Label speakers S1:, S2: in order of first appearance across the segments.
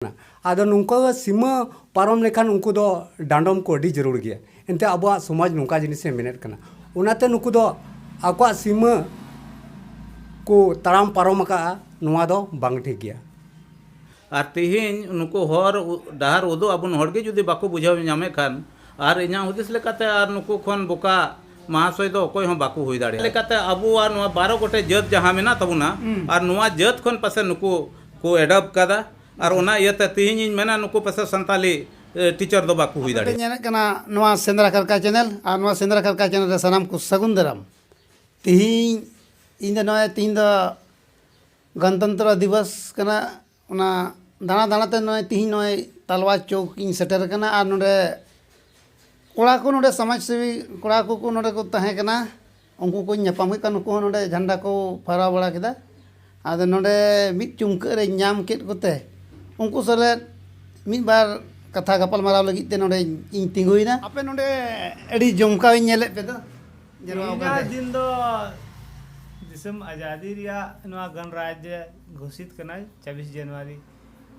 S1: ᱠᱟᱱᱟ ᱟᱫᱚ ᱱᱚᱝᱠᱟ ᱥᱤᱢᱟᱹ ᱯᱟᱨᱚᱢ ᱞᱮᱠᱷᱟᱱ ᱩᱱᱠᱩ ᱫᱚ ᱰᱟᱸᱰᱚᱢ ᱠᱚ ᱟᱹᱰᱤ ᱡᱟᱹᱨᱩᱲ ᱜᱮᱭᱟ ᱮᱱᱛᱮ ᱟᱵᱚᱣᱟᱜ ᱥᱚᱢᱟᱡᱽ ᱱᱚᱝᱠᱟ ᱡᱤᱱᱤᱥ ᱮ ᱢᱮᱱᱮᱫ ᱠᱟᱱᱟ ᱚᱱᱟᱛᱮ ᱱᱩᱠᱩ ᱫᱚ ᱟᱠᱚᱣᱟᱜ ᱥᱤᱢᱟᱹ ᱠᱚ ᱛᱟᱲᱟᱢ ᱯᱟᱨᱚᱢ ᱟᱠᱟᱫᱼᱟ ᱱᱚᱣᱟ ᱫᱚ ᱵᱟᱝ ᱴᱷᱤᱠ ᱜᱮᱭᱟ ᱟᱨ ᱛᱮᱦᱮᱧ ᱱᱩᱠᱩ ᱦᱚᱨ ᱰᱟᱦᱟᱨ ᱩᱫᱩᱜ ᱟᱵᱚᱱ ᱦᱚᱲ ᱜᱮ ᱡᱩᱫᱤ ᱵᱟᱠᱚ ᱵᱩᱡᱷᱟᱹᱣ ᱧᱟᱢᱮᱫ ᱠᱷᱟᱱ ᱟᱨ ᱤᱧᱟᱹᱜ ᱦᱩᱫᱤᱥ ᱞᱮᱠᱟᱛᱮ ᱟᱨ ᱱᱩᱠᱩ ᱠᱷᱚᱱ ᱵᱚᱠᱟ ᱢᱟᱦᱟᱥᱚᱭ ᱫᱚ ᱚᱠᱚᱭ ᱦᱚᱸ ᱵᱟᱠᱚ ᱦᱩᱭ ᱫᱟᱲᱮᱭᱟᱜᱼᱟ ᱞᱮᱠᱟᱛᱮ ᱟᱵᱚᱣᱟᱜ ᱱᱚᱣᱟ ᱵᱟᱨᱚ ᱜᱚᱴᱮᱡ ᱡᱟᱹᱛ ᱡᱟᱦᱟᱸ ᱢᱮᱱᱟᱜ ᱛᱟᱵᱚᱱᱟ ᱟᱨ ᱱᱚᱣᱟ ᱡᱟᱹᱛ ᱠᱷᱚᱱ ᱯᱟᱥᱮᱡ ᱱᱩᱠᱩ ᱠᱚ ᱮᱰᱚᱯᱴ ᱟᱠᱟᱫᱟ ᱟᱨ ᱚᱱᱟ ᱤᱭᱟᱹ ᱛᱮ ᱛᱮᱦᱮᱧ ᱤᱧ ᱢᱮᱱᱟ ᱱᱩᱠᱩ ᱯᱟᱥᱮ ᱥᱟᱱᱛᱟᱞᱤ ᱴᱤᱪᱟᱨ ᱫᱚ ᱵᱟᱠᱚ ᱦᱩᱭ ᱫᱟᱲᱮᱭᱟᱜᱼᱟ ᱧᱮᱞᱮᱫ ᱠᱟᱱᱟ ᱱᱚᱣᱟ ᱥᱮᱸᱫᱽᱨᱟ ᱠᱟᱨᱠᱟ ᱪᱮᱱᱮᱞ ᱟᱨ ᱱᱚᱣᱟ ᱥᱮᱸᱫᱽᱨᱟ ᱠᱟᱨᱠᱟ ᱪᱮᱱᱮᱞ ᱨᱮ ᱥᱟᱱᱟᱢ ᱠᱚ ᱥᱟᱹᱜᱩᱱ ᱫᱟᱨᱟᱢ ᱛᱮᱦᱮᱧ ᱤᱧ ᱫᱚ ᱱᱚᱜᱼᱚᱭ ᱛᱮᱦᱮᱧ ᱫᱚ ᱜᱚᱱᱛᱚᱱᱛᱨᱚ ᱫᱤᱵᱚᱥ ᱠᱟᱱᱟ ᱚᱱᱟ ᱫᱟᱬᱟ ᱫᱟᱬᱟ ᱛᱮ ᱱᱚᱜᱼᱚᱭ ᱛᱮᱦᱮᱧ ᱱᱚᱜᱼᱚᱭ ᱛᱟᱞᱣᱟ ᱪᱚᱣᱠ ᱤᱧ ᱥᱮᱴᱮᱨ ᱟᱠᱟᱱᱟ ᱟᱨ ᱱᱚᱰᱮ ᱠᱚᱲᱟ ᱠᱚ ᱱᱚᱰᱮ ᱥᱚᱢᱟᱡᱽ ᱥᱮᱵᱤ ᱠᱚᱲᱟ ᱠᱚᱠᱚ ᱱᱚᱰᱮ ᱠᱚ ᱛᱟᱦᱮᱸ ᱠᱟᱱᱟ ᱩᱱᱠᱩ ᱠᱚᱧ ᱧᱟᱯᱟᱢ ᱠᱮᱫ ᱠᱚᱣᱟ ᱱᱩᱠᱩ ᱦᱚᱸ ᱱᱚᱰᱮ ᱡᱷᱟᱱᱰᱟ ᱠᱚ ᱯᱷᱟᱨᱟᱣ ᱵᱟᱲᱟ ᱠᱮᱫᱟ ᱟᱫᱚ ᱱᱚᱰᱮ ᱢᱤᱫ ᱪᱩᱢᱠᱟᱹᱜ ᱨᱮᱧ ᱧᱟᱢ ᱠᱮᱫ ᱠᱚᱛᱮ ᱩᱱᱠᱩ ᱥᱟᱞᱟᱜ ᱢᱤᱫ ᱵᱟᱨ ᱠᱟᱛᱷᱟ ᱜᱟᱯᱟᱞ ᱢᱟᱨᱟᱣ ᱞᱟᱹᱜᱤᱫ ᱛᱮ ᱱᱚᱰᱮ ᱤᱧ ᱛᱤᱸᱜᱩᱭᱮᱱᱟ ᱟᱯᱮ ᱱᱚᱰᱮ ᱟᱹᱰᱤ ᱡᱚᱢᱠᱟᱣ ᱤᱧ ᱧᱮᱞᱮᱫ ᱯᱮ ᱫᱚ ᱛᱮᱦᱮᱧᱟᱜ ᱫᱤᱱ ᱫᱚ ᱫᱤᱥᱚᱢ ᱟᱡᱟᱫᱤ ᱨᱮᱭᱟᱜ ᱱᱚᱣᱟ ᱜᱚᱱᱨᱟᱡᱽ ᱜᱷᱳᱥᱤᱛ ᱠᱟᱱᱟᱭ ᱪᱷᱟᱵᱤᱥ ᱡᱟᱱᱩᱣᱟᱨᱤ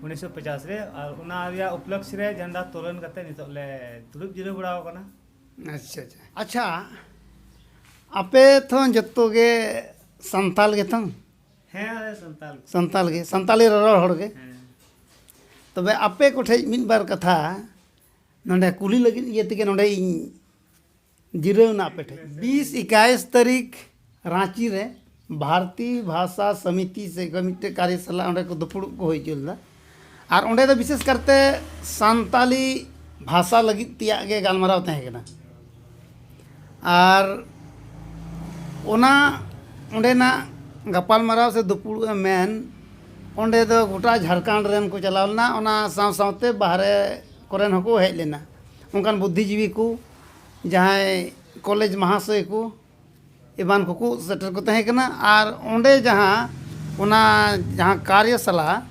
S1: ᱩᱱᱤᱥᱥᱚ ᱯᱚᱪᱟᱥ ᱨᱮ ᱟᱨ ᱚᱱᱟ ᱨᱮᱭᱟᱜ ᱩᱯᱞᱚᱠᱠᱷᱮ ᱨᱮ ᱡᱷᱟᱱᱰᱟ ᱛᱳᱞᱚᱱ ᱠᱟᱛᱮᱫ ᱱᱤᱛᱚᱜ ᱞᱮ ᱫᱩᱲᱩᱵ ᱡᱤᱨᱟᱹᱣ ᱵᱟᱲᱟᱣ ᱠᱟᱱᱟ ᱟᱪᱪᱷᱟ ᱟᱪᱪᱷᱟ ᱟᱪᱪᱷᱟ ᱟᱯᱮ ᱛᱚ ᱡᱚᱛᱚ ᱜᱮ ᱥᱟᱱᱛᱟᱲ ᱜᱮᱛᱚ ᱦᱮᱸ ᱟᱞᱮ ᱥᱟᱱᱛᱟᱲ ᱜᱮ ᱥᱟᱱᱛᱟᱲ ᱜᱮ ᱥᱟᱱᱛᱟᱲᱤ ᱨᱚᱨᱚᱲ ᱦᱚᱲ ᱜᱮ ᱦᱮᱸ ᱛᱚᱵᱮ ᱟᱯᱮ ᱠᱚᱴᱷᱮᱡ ᱢᱤᱫ ᱵᱟᱨ ᱠᱟᱛᱷᱟ ᱱᱚᱰᱮ ᱠᱩᱞᱤ ᱞᱟᱹᱜᱤᱫ ᱤᱭᱟᱹ ᱛᱮᱜᱮ ᱱᱚᱰᱮᱧ ᱡᱤᱨᱟᱹᱣ ᱮᱱᱟ ᱟᱯᱮ ᱴᱷᱮᱡ ᱵᱤᱥ ᱮᱠᱟᱭᱤᱥ ᱛᱟᱹᱨᱤᱠᱷ ᱨᱟᱺᱪᱤ ᱨᱮ ᱵᱷᱟᱨᱚᱛᱤ ᱵᱷᱟᱥᱟ ᱥᱚᱢᱤᱛᱤ ᱥᱮ ᱢᱤᱫᱴᱮᱡ ᱠᱟᱨᱭᱚᱥᱟᱞᱟ ᱚᱸᱰᱮ ᱠᱚ ᱫᱩᱯᱩᱲᱩᱵ ᱠᱚ ᱦᱩᱭ ᱦᱚᱪᱚ ᱞᱮᱫᱟ ᱟᱨ ᱚᱸᱰᱮ ᱫᱚ ᱵᱤᱥᱮᱥ ᱠᱟᱨᱛᱮ ᱥᱟᱱᱛᱟᱲᱤ ᱵᱷᱟᱥᱟ ᱞᱟᱹᱜᱤᱫ ᱛᱮᱭᱟᱜ ᱜᱮ ᱜᱟᱞᱢᱟᱨᱟᱣ ᱛᱟᱦᱮᱸ ᱠᱟᱱᱟ ᱟᱨ ᱚᱱᱟ ᱚᱸᱰᱮᱱᱟᱜ ᱜᱟᱯᱟᱞᱢᱟᱨᱟᱣ ᱥᱮ ᱫᱩᱯᱩᱲᱩᱵ ᱮᱢ ᱢᱮᱱ ᱚᱸᱰᱮ ᱫᱚ ᱜᱚᱴᱟ ᱡᱷᱟᱲᱠᱷᱚᱸᱰ ᱨᱮᱱ ᱠᱚ ᱪᱟᱞᱟᱣ ᱞᱮᱱᱟ ᱚᱱᱟ ᱥᱟᱶ ᱥᱟᱶᱛᱮ ᱵᱟᱦᱨᱮ ᱠᱚᱨᱮᱱ ᱦᱚᱸᱠᱚ ᱦᱮᱡ ᱞᱮᱱᱟ ᱚᱱᱠᱟᱱ ᱵᱩᱫᱽᱫᱷᱤ ᱡᱤᱵᱤ ᱠᱚ ᱡᱟᱦᱟᱸᱭ ᱠᱚᱞᱮᱡᱽ ᱢᱟᱦᱟᱥᱚᱭ ᱠᱚ ᱮᱢᱟᱱ ᱠᱚᱠᱚ ᱥᱮᱴᱮᱨ ᱠᱚ ᱛᱟᱦᱮᱸ ᱠᱟᱱᱟ ᱟᱨ ᱚᱸᱰᱮ ᱡᱟᱦᱟᱸ ᱚᱱᱟ ᱡᱟᱦᱟᱸ ᱠᱟᱨᱭᱚᱥᱟᱞᱟ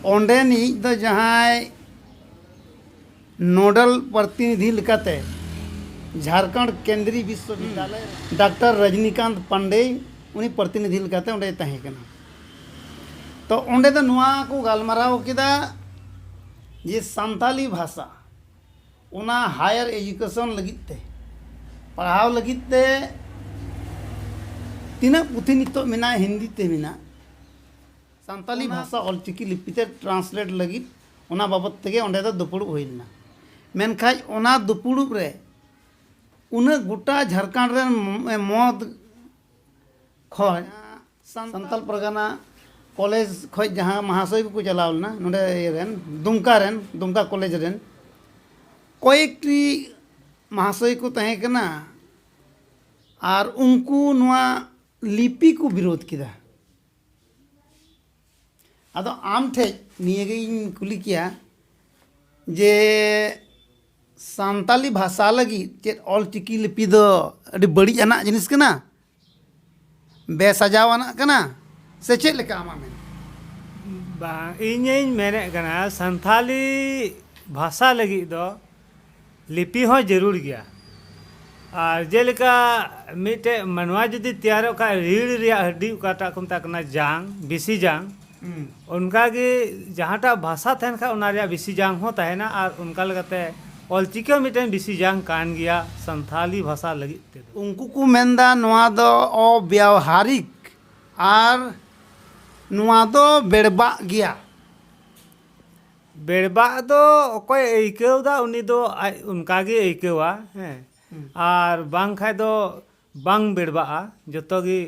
S1: ᱚᱸᱰᱮᱱᱤᱡ ᱫᱚ ᱡᱟᱦᱟᱸᱭ ᱱᱳᱰᱟᱞ ᱯᱨᱚᱛᱤᱱᱤᱫᱷᱤ ᱞᱮᱠᱟᱛᱮ ᱡᱷᱟᱲᱠᱷᱚᱸᱰ ᱠᱮᱱᱫᱨᱤᱭᱚ ᱵᱤᱥᱥᱚ ᱵᱤᱫᱽᱫᱟᱞᱚᱭ ᱰᱟᱠᱴᱚᱨ ᱨᱚᱡᱽᱱᱤᱠᱟᱱᱛ ᱯᱟᱱᱰᱮ ᱩᱱᱤ ᱯᱨᱚᱛᱤᱱᱤᱫᱷᱤ ᱞᱮᱠᱟᱛᱮ ᱚᱸᱰᱮᱭ ᱛᱟᱦᱮᱸ ᱠᱟᱱᱟ ᱛᱚ ᱚᱸᱰᱮ ᱫᱚ ᱱᱚᱣᱟ ᱠᱚ ᱜᱟᱞᱢᱟᱨᱟᱣ ᱠᱮᱫᱟ ᱡᱮ ᱥᱟᱱᱛᱟᱲᱤ ᱵᱷᱟᱥᱟ ᱚᱱᱟ ᱦᱟᱭᱟᱨ ᱮᱰᱩᱠᱮᱥᱚᱱ ᱞᱟᱹᱜᱤᱫ ᱛᱮ ᱯᱟᱲᱦᱟᱣ ᱞᱟᱹᱜᱤᱫ ᱛᱮ ᱛᱤᱱᱟᱹᱜ ᱯᱩᱛᱷᱤ ᱱᱤᱛᱚᱜ ᱢᱮᱱᱟᱜᱼᱟ ᱦᱤᱱᱫᱤ ᱛᱮ ᱢᱮᱱᱟᱜᱼᱟ ᱥᱟᱱᱛᱟᱞᱤ ᱵᱷᱟᱥᱟ ᱚᱞ ᱪᱤᱠᱤ ᱞᱤᱯᱤ ᱛᱮ ᱴᱨᱟᱱᱥᱞᱮᱴ ᱞᱟᱹᱜᱤᱫ ᱚᱱᱟ ᱵᱟᱵᱚᱛ ᱛᱮᱜᱮ ᱚᱸᱰᱮ ᱫᱚ ᱫᱩᱯᱩᱲᱩᱵ ᱦᱩᱭ ᱞᱮᱱᱟ ᱢᱮᱱᱠᱷᱟᱱ ᱚᱱᱟ ᱫᱩᱯᱩᱲᱩᱵ ᱨᱮ ᱩᱱᱟᱹᱜ ᱜᱚᱴᱟ ᱡᱷᱟᱲᱠᱷᱚᱸᱰ ᱨᱮᱱ ᱢᱚᱛ ᱠᱷᱚᱱ ᱥᱟᱱᱛᱟᱞ ᱯᱟᱨᱜᱟᱱᱟ ᱠᱚᱞᱮᱡᱽ ᱠᱷᱚᱱ ᱡᱟᱦᱟᱸ ᱢᱟᱦᱟᱥᱚᱭ ᱠᱚᱠᱚ ᱪᱟᱞᱟᱣ ᱞᱮᱱᱟ ᱱᱚᱰᱮ ᱤᱭᱟᱹ ᱨᱮᱱ ᱫᱩᱢᱠᱟ ᱨᱮᱱ ᱫᱩᱢᱠᱟ ᱠᱚᱞᱮᱡᱽ ᱨᱮᱱ ᱠᱚᱭᱮᱠᱴᱤ ᱢᱟᱦᱟᱥᱚᱭ ᱠᱚ ᱛᱟᱦᱮᱸ ᱠᱟᱱᱟ ᱟᱨ ᱩᱱᱠᱩ ᱱᱚᱣᱟ ᱞᱤᱯᱤ ᱠᱚ ᱵᱤᱨᱳᱫᱷ ᱠᱮᱫᱟ ᱟᱫᱚ ᱟᱢ ᱴᱷᱮᱱ ᱱᱤᱭᱟᱹᱜᱤᱧ ᱠᱩᱞᱤ ᱠᱮᱭᱟ ᱡᱮ ᱥᱟᱱᱛᱟᱞᱤ ᱵᱷᱟᱥᱟ ᱞᱟᱹᱜᱤᱫ ᱪᱮᱫ ᱚᱞᱪᱤᱠᱤ ᱞᱤᱯᱤ ᱫᱚ ᱟᱹᱰᱤ ᱵᱟᱹᱲᱤᱡ ᱟᱱᱟᱜ ᱡᱤᱱᱤᱥ ᱠᱟᱱᱟ ᱵᱮᱥᱟᱡᱟᱣ ᱟᱱᱟᱜ ᱠᱟᱱᱟ ᱥᱮ ᱪᱮᱫ ᱞᱮᱠᱟ ᱟᱢᱟᱜ ᱢᱮᱱ? ᱵᱟᱝ ᱤᱧᱤᱧ ᱢᱮᱱᱮᱫ ᱠᱟᱱᱟ ᱥᱟᱱᱛᱟᱲᱤ ᱵᱷᱟᱥᱟ ᱞᱟᱹᱜᱤᱫ ᱫᱚ ᱞᱤᱯᱤ ᱦᱚᱸ ᱡᱟᱹᱨᱩᱲ ᱜᱮᱭᱟ ᱟᱨ ᱡᱮᱞᱮᱠᱟ ᱢᱤᱫᱴᱮᱱ ᱢᱟᱱᱣᱟ ᱡᱩᱫᱤ ᱛᱮᱭᱟᱨᱚᱜ ᱠᱷᱟᱱ ᱨᱤᱲ ᱨᱮᱭᱟᱜ ᱦᱟᱹᱰᱤ ᱚᱠᱟᱴᱟᱜ ᱠᱚ ᱢᱮᱛᱟᱜ ᱠᱟᱱᱟ ᱡᱟᱝ ᱵᱤᱥᱤ ᱡᱟᱝ ᱚᱱᱠᱟ ᱜᱮ ᱡᱟᱦᱟᱸ ᱴᱟᱜ ᱵᱷᱟᱥᱟ ᱛᱟᱦᱮᱱ ᱠᱷᱟᱱ ᱚᱱᱟ ᱨᱮᱭᱟᱜ ᱵᱤᱥᱤ ᱡᱟᱝ ᱦᱚᱸ ᱛᱟᱦᱮᱱᱟ ᱟᱨ ᱚᱱᱠᱟ ᱞᱮᱠᱟᱛᱮ ᱚᱞ ᱪᱤᱠᱤ ᱦᱚᱸ ᱢᱤᱫᱴᱮᱱ ᱵᱤᱥᱤ ᱡᱟᱝ ᱠᱟᱱ ᱜᱮᱭᱟ ᱥᱟᱱᱛᱷᱟᱞᱤ ᱵᱷᱟᱥᱟ ᱞᱟᱹᱜᱤᱫ ᱛᱮᱫᱚ᱾ ᱩᱱᱠᱩ ᱠᱚ ᱢᱮᱱ ᱮᱫᱟ ᱱᱚᱶᱟ ᱫᱚ ᱚᱵᱮᱣᱦᱟᱨᱤᱠ ᱟᱨ ᱱᱚᱶᱟ ᱫᱚ ᱵᱮᱲᱵᱟᱜ ᱜᱮᱭᱟ᱾ ᱵᱮᱲᱵᱟᱜ ᱫᱚ ᱚᱠᱚᱭᱮ ᱟᱹᱭᱠᱟᱹᱣ ᱮᱫᱟ ᱩᱱᱤ ᱫᱚ ᱟᱡ ᱚᱱᱠᱟ ᱜᱮᱭ ᱟᱹᱭᱠᱟᱹᱣᱟ ᱦᱮᱸ ᱟᱨ ᱵᱟᱝ ᱠᱷᱟᱱ ᱫᱚ ᱵᱟᱝ ᱵᱮᱲᱵᱟᱜᱼᱟ ᱡᱚᱛᱚ ᱜᱮ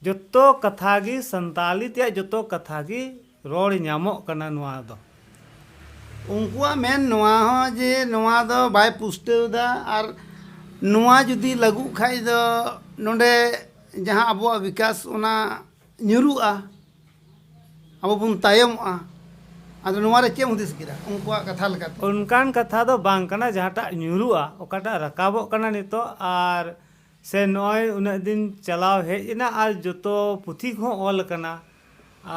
S1: ᱡᱚᱛᱚ ᱠᱟᱛᱷᱟ ᱜᱮ ᱥᱟᱱᱛᱟᱞᱤ ᱛᱮᱭᱟᱜ ᱡᱚᱛᱚ ᱠᱟᱛᱷᱟ ᱜᱮ ᱨᱚᱲ ᱧᱟᱢᱚᱜ ᱠᱟᱱᱟ ᱱᱚᱣᱟ ᱫᱚ᱾ ᱩᱱᱠᱩᱣᱟᱜ ᱢᱮᱱ ᱱᱚᱣᱟ ᱦᱚᱸ ᱡᱮ ᱱᱚᱣᱟ ᱫᱚ ᱵᱟᱭ ᱯᱩᱥᱴᱟᱹᱣ ᱮᱫᱟ ᱟᱨ ᱱᱚᱣᱟ ᱡᱩᱫᱤ ᱞᱟᱹᱜᱩᱜ ᱠᱷᱟᱱ ᱫᱚ ᱱᱚᱸᱰᱮ ᱡᱟᱦᱟᱸ ᱟᱵᱚᱣᱟᱜ ᱵᱤᱠᱟᱥ ᱚᱱᱟ ᱧᱩᱨᱩᱜᱼᱟ ᱟᱵᱚ ᱵᱚᱱ ᱛᱟᱭᱚᱢᱚᱜᱼᱟ ᱟᱫᱚ ᱱᱚᱣᱟ ᱨᱮ ᱪᱮᱫ ᱮᱢ ᱦᱩᱫᱤᱥ ᱠᱮᱫᱟ ᱩᱱᱠᱩᱣᱟᱜ ᱠᱟᱛᱷᱟ ᱞᱮᱠᱟᱛᱮ? ᱚᱱᱠᱟᱱ ᱠᱟᱛᱷᱟ ᱫᱚ ᱵᱟᱝ ᱠᱟᱱᱟ ᱡᱟᱦᱟᱸᱴᱟᱜ ᱧᱩᱨᱩᱜᱼᱟ ᱚᱠᱟᱴᱟᱜ ᱨᱟᱠᱟᱵᱚᱜ ᱠᱟᱱᱟ ᱱᱤᱛᱚᱜ ᱟᱨ ᱥᱮ ᱱᱚᱜᱼᱚᱭ ᱩᱱᱟᱹᱜ ᱫᱤᱱ ᱪᱟᱞᱟᱣ ᱦᱮᱡ ᱮᱱᱟ ᱟᱨ ᱡᱚᱛᱚ ᱯᱩᱛᱷᱤ ᱠᱚᱦᱚᱸ ᱚᱞ ᱟᱠᱟᱱᱟ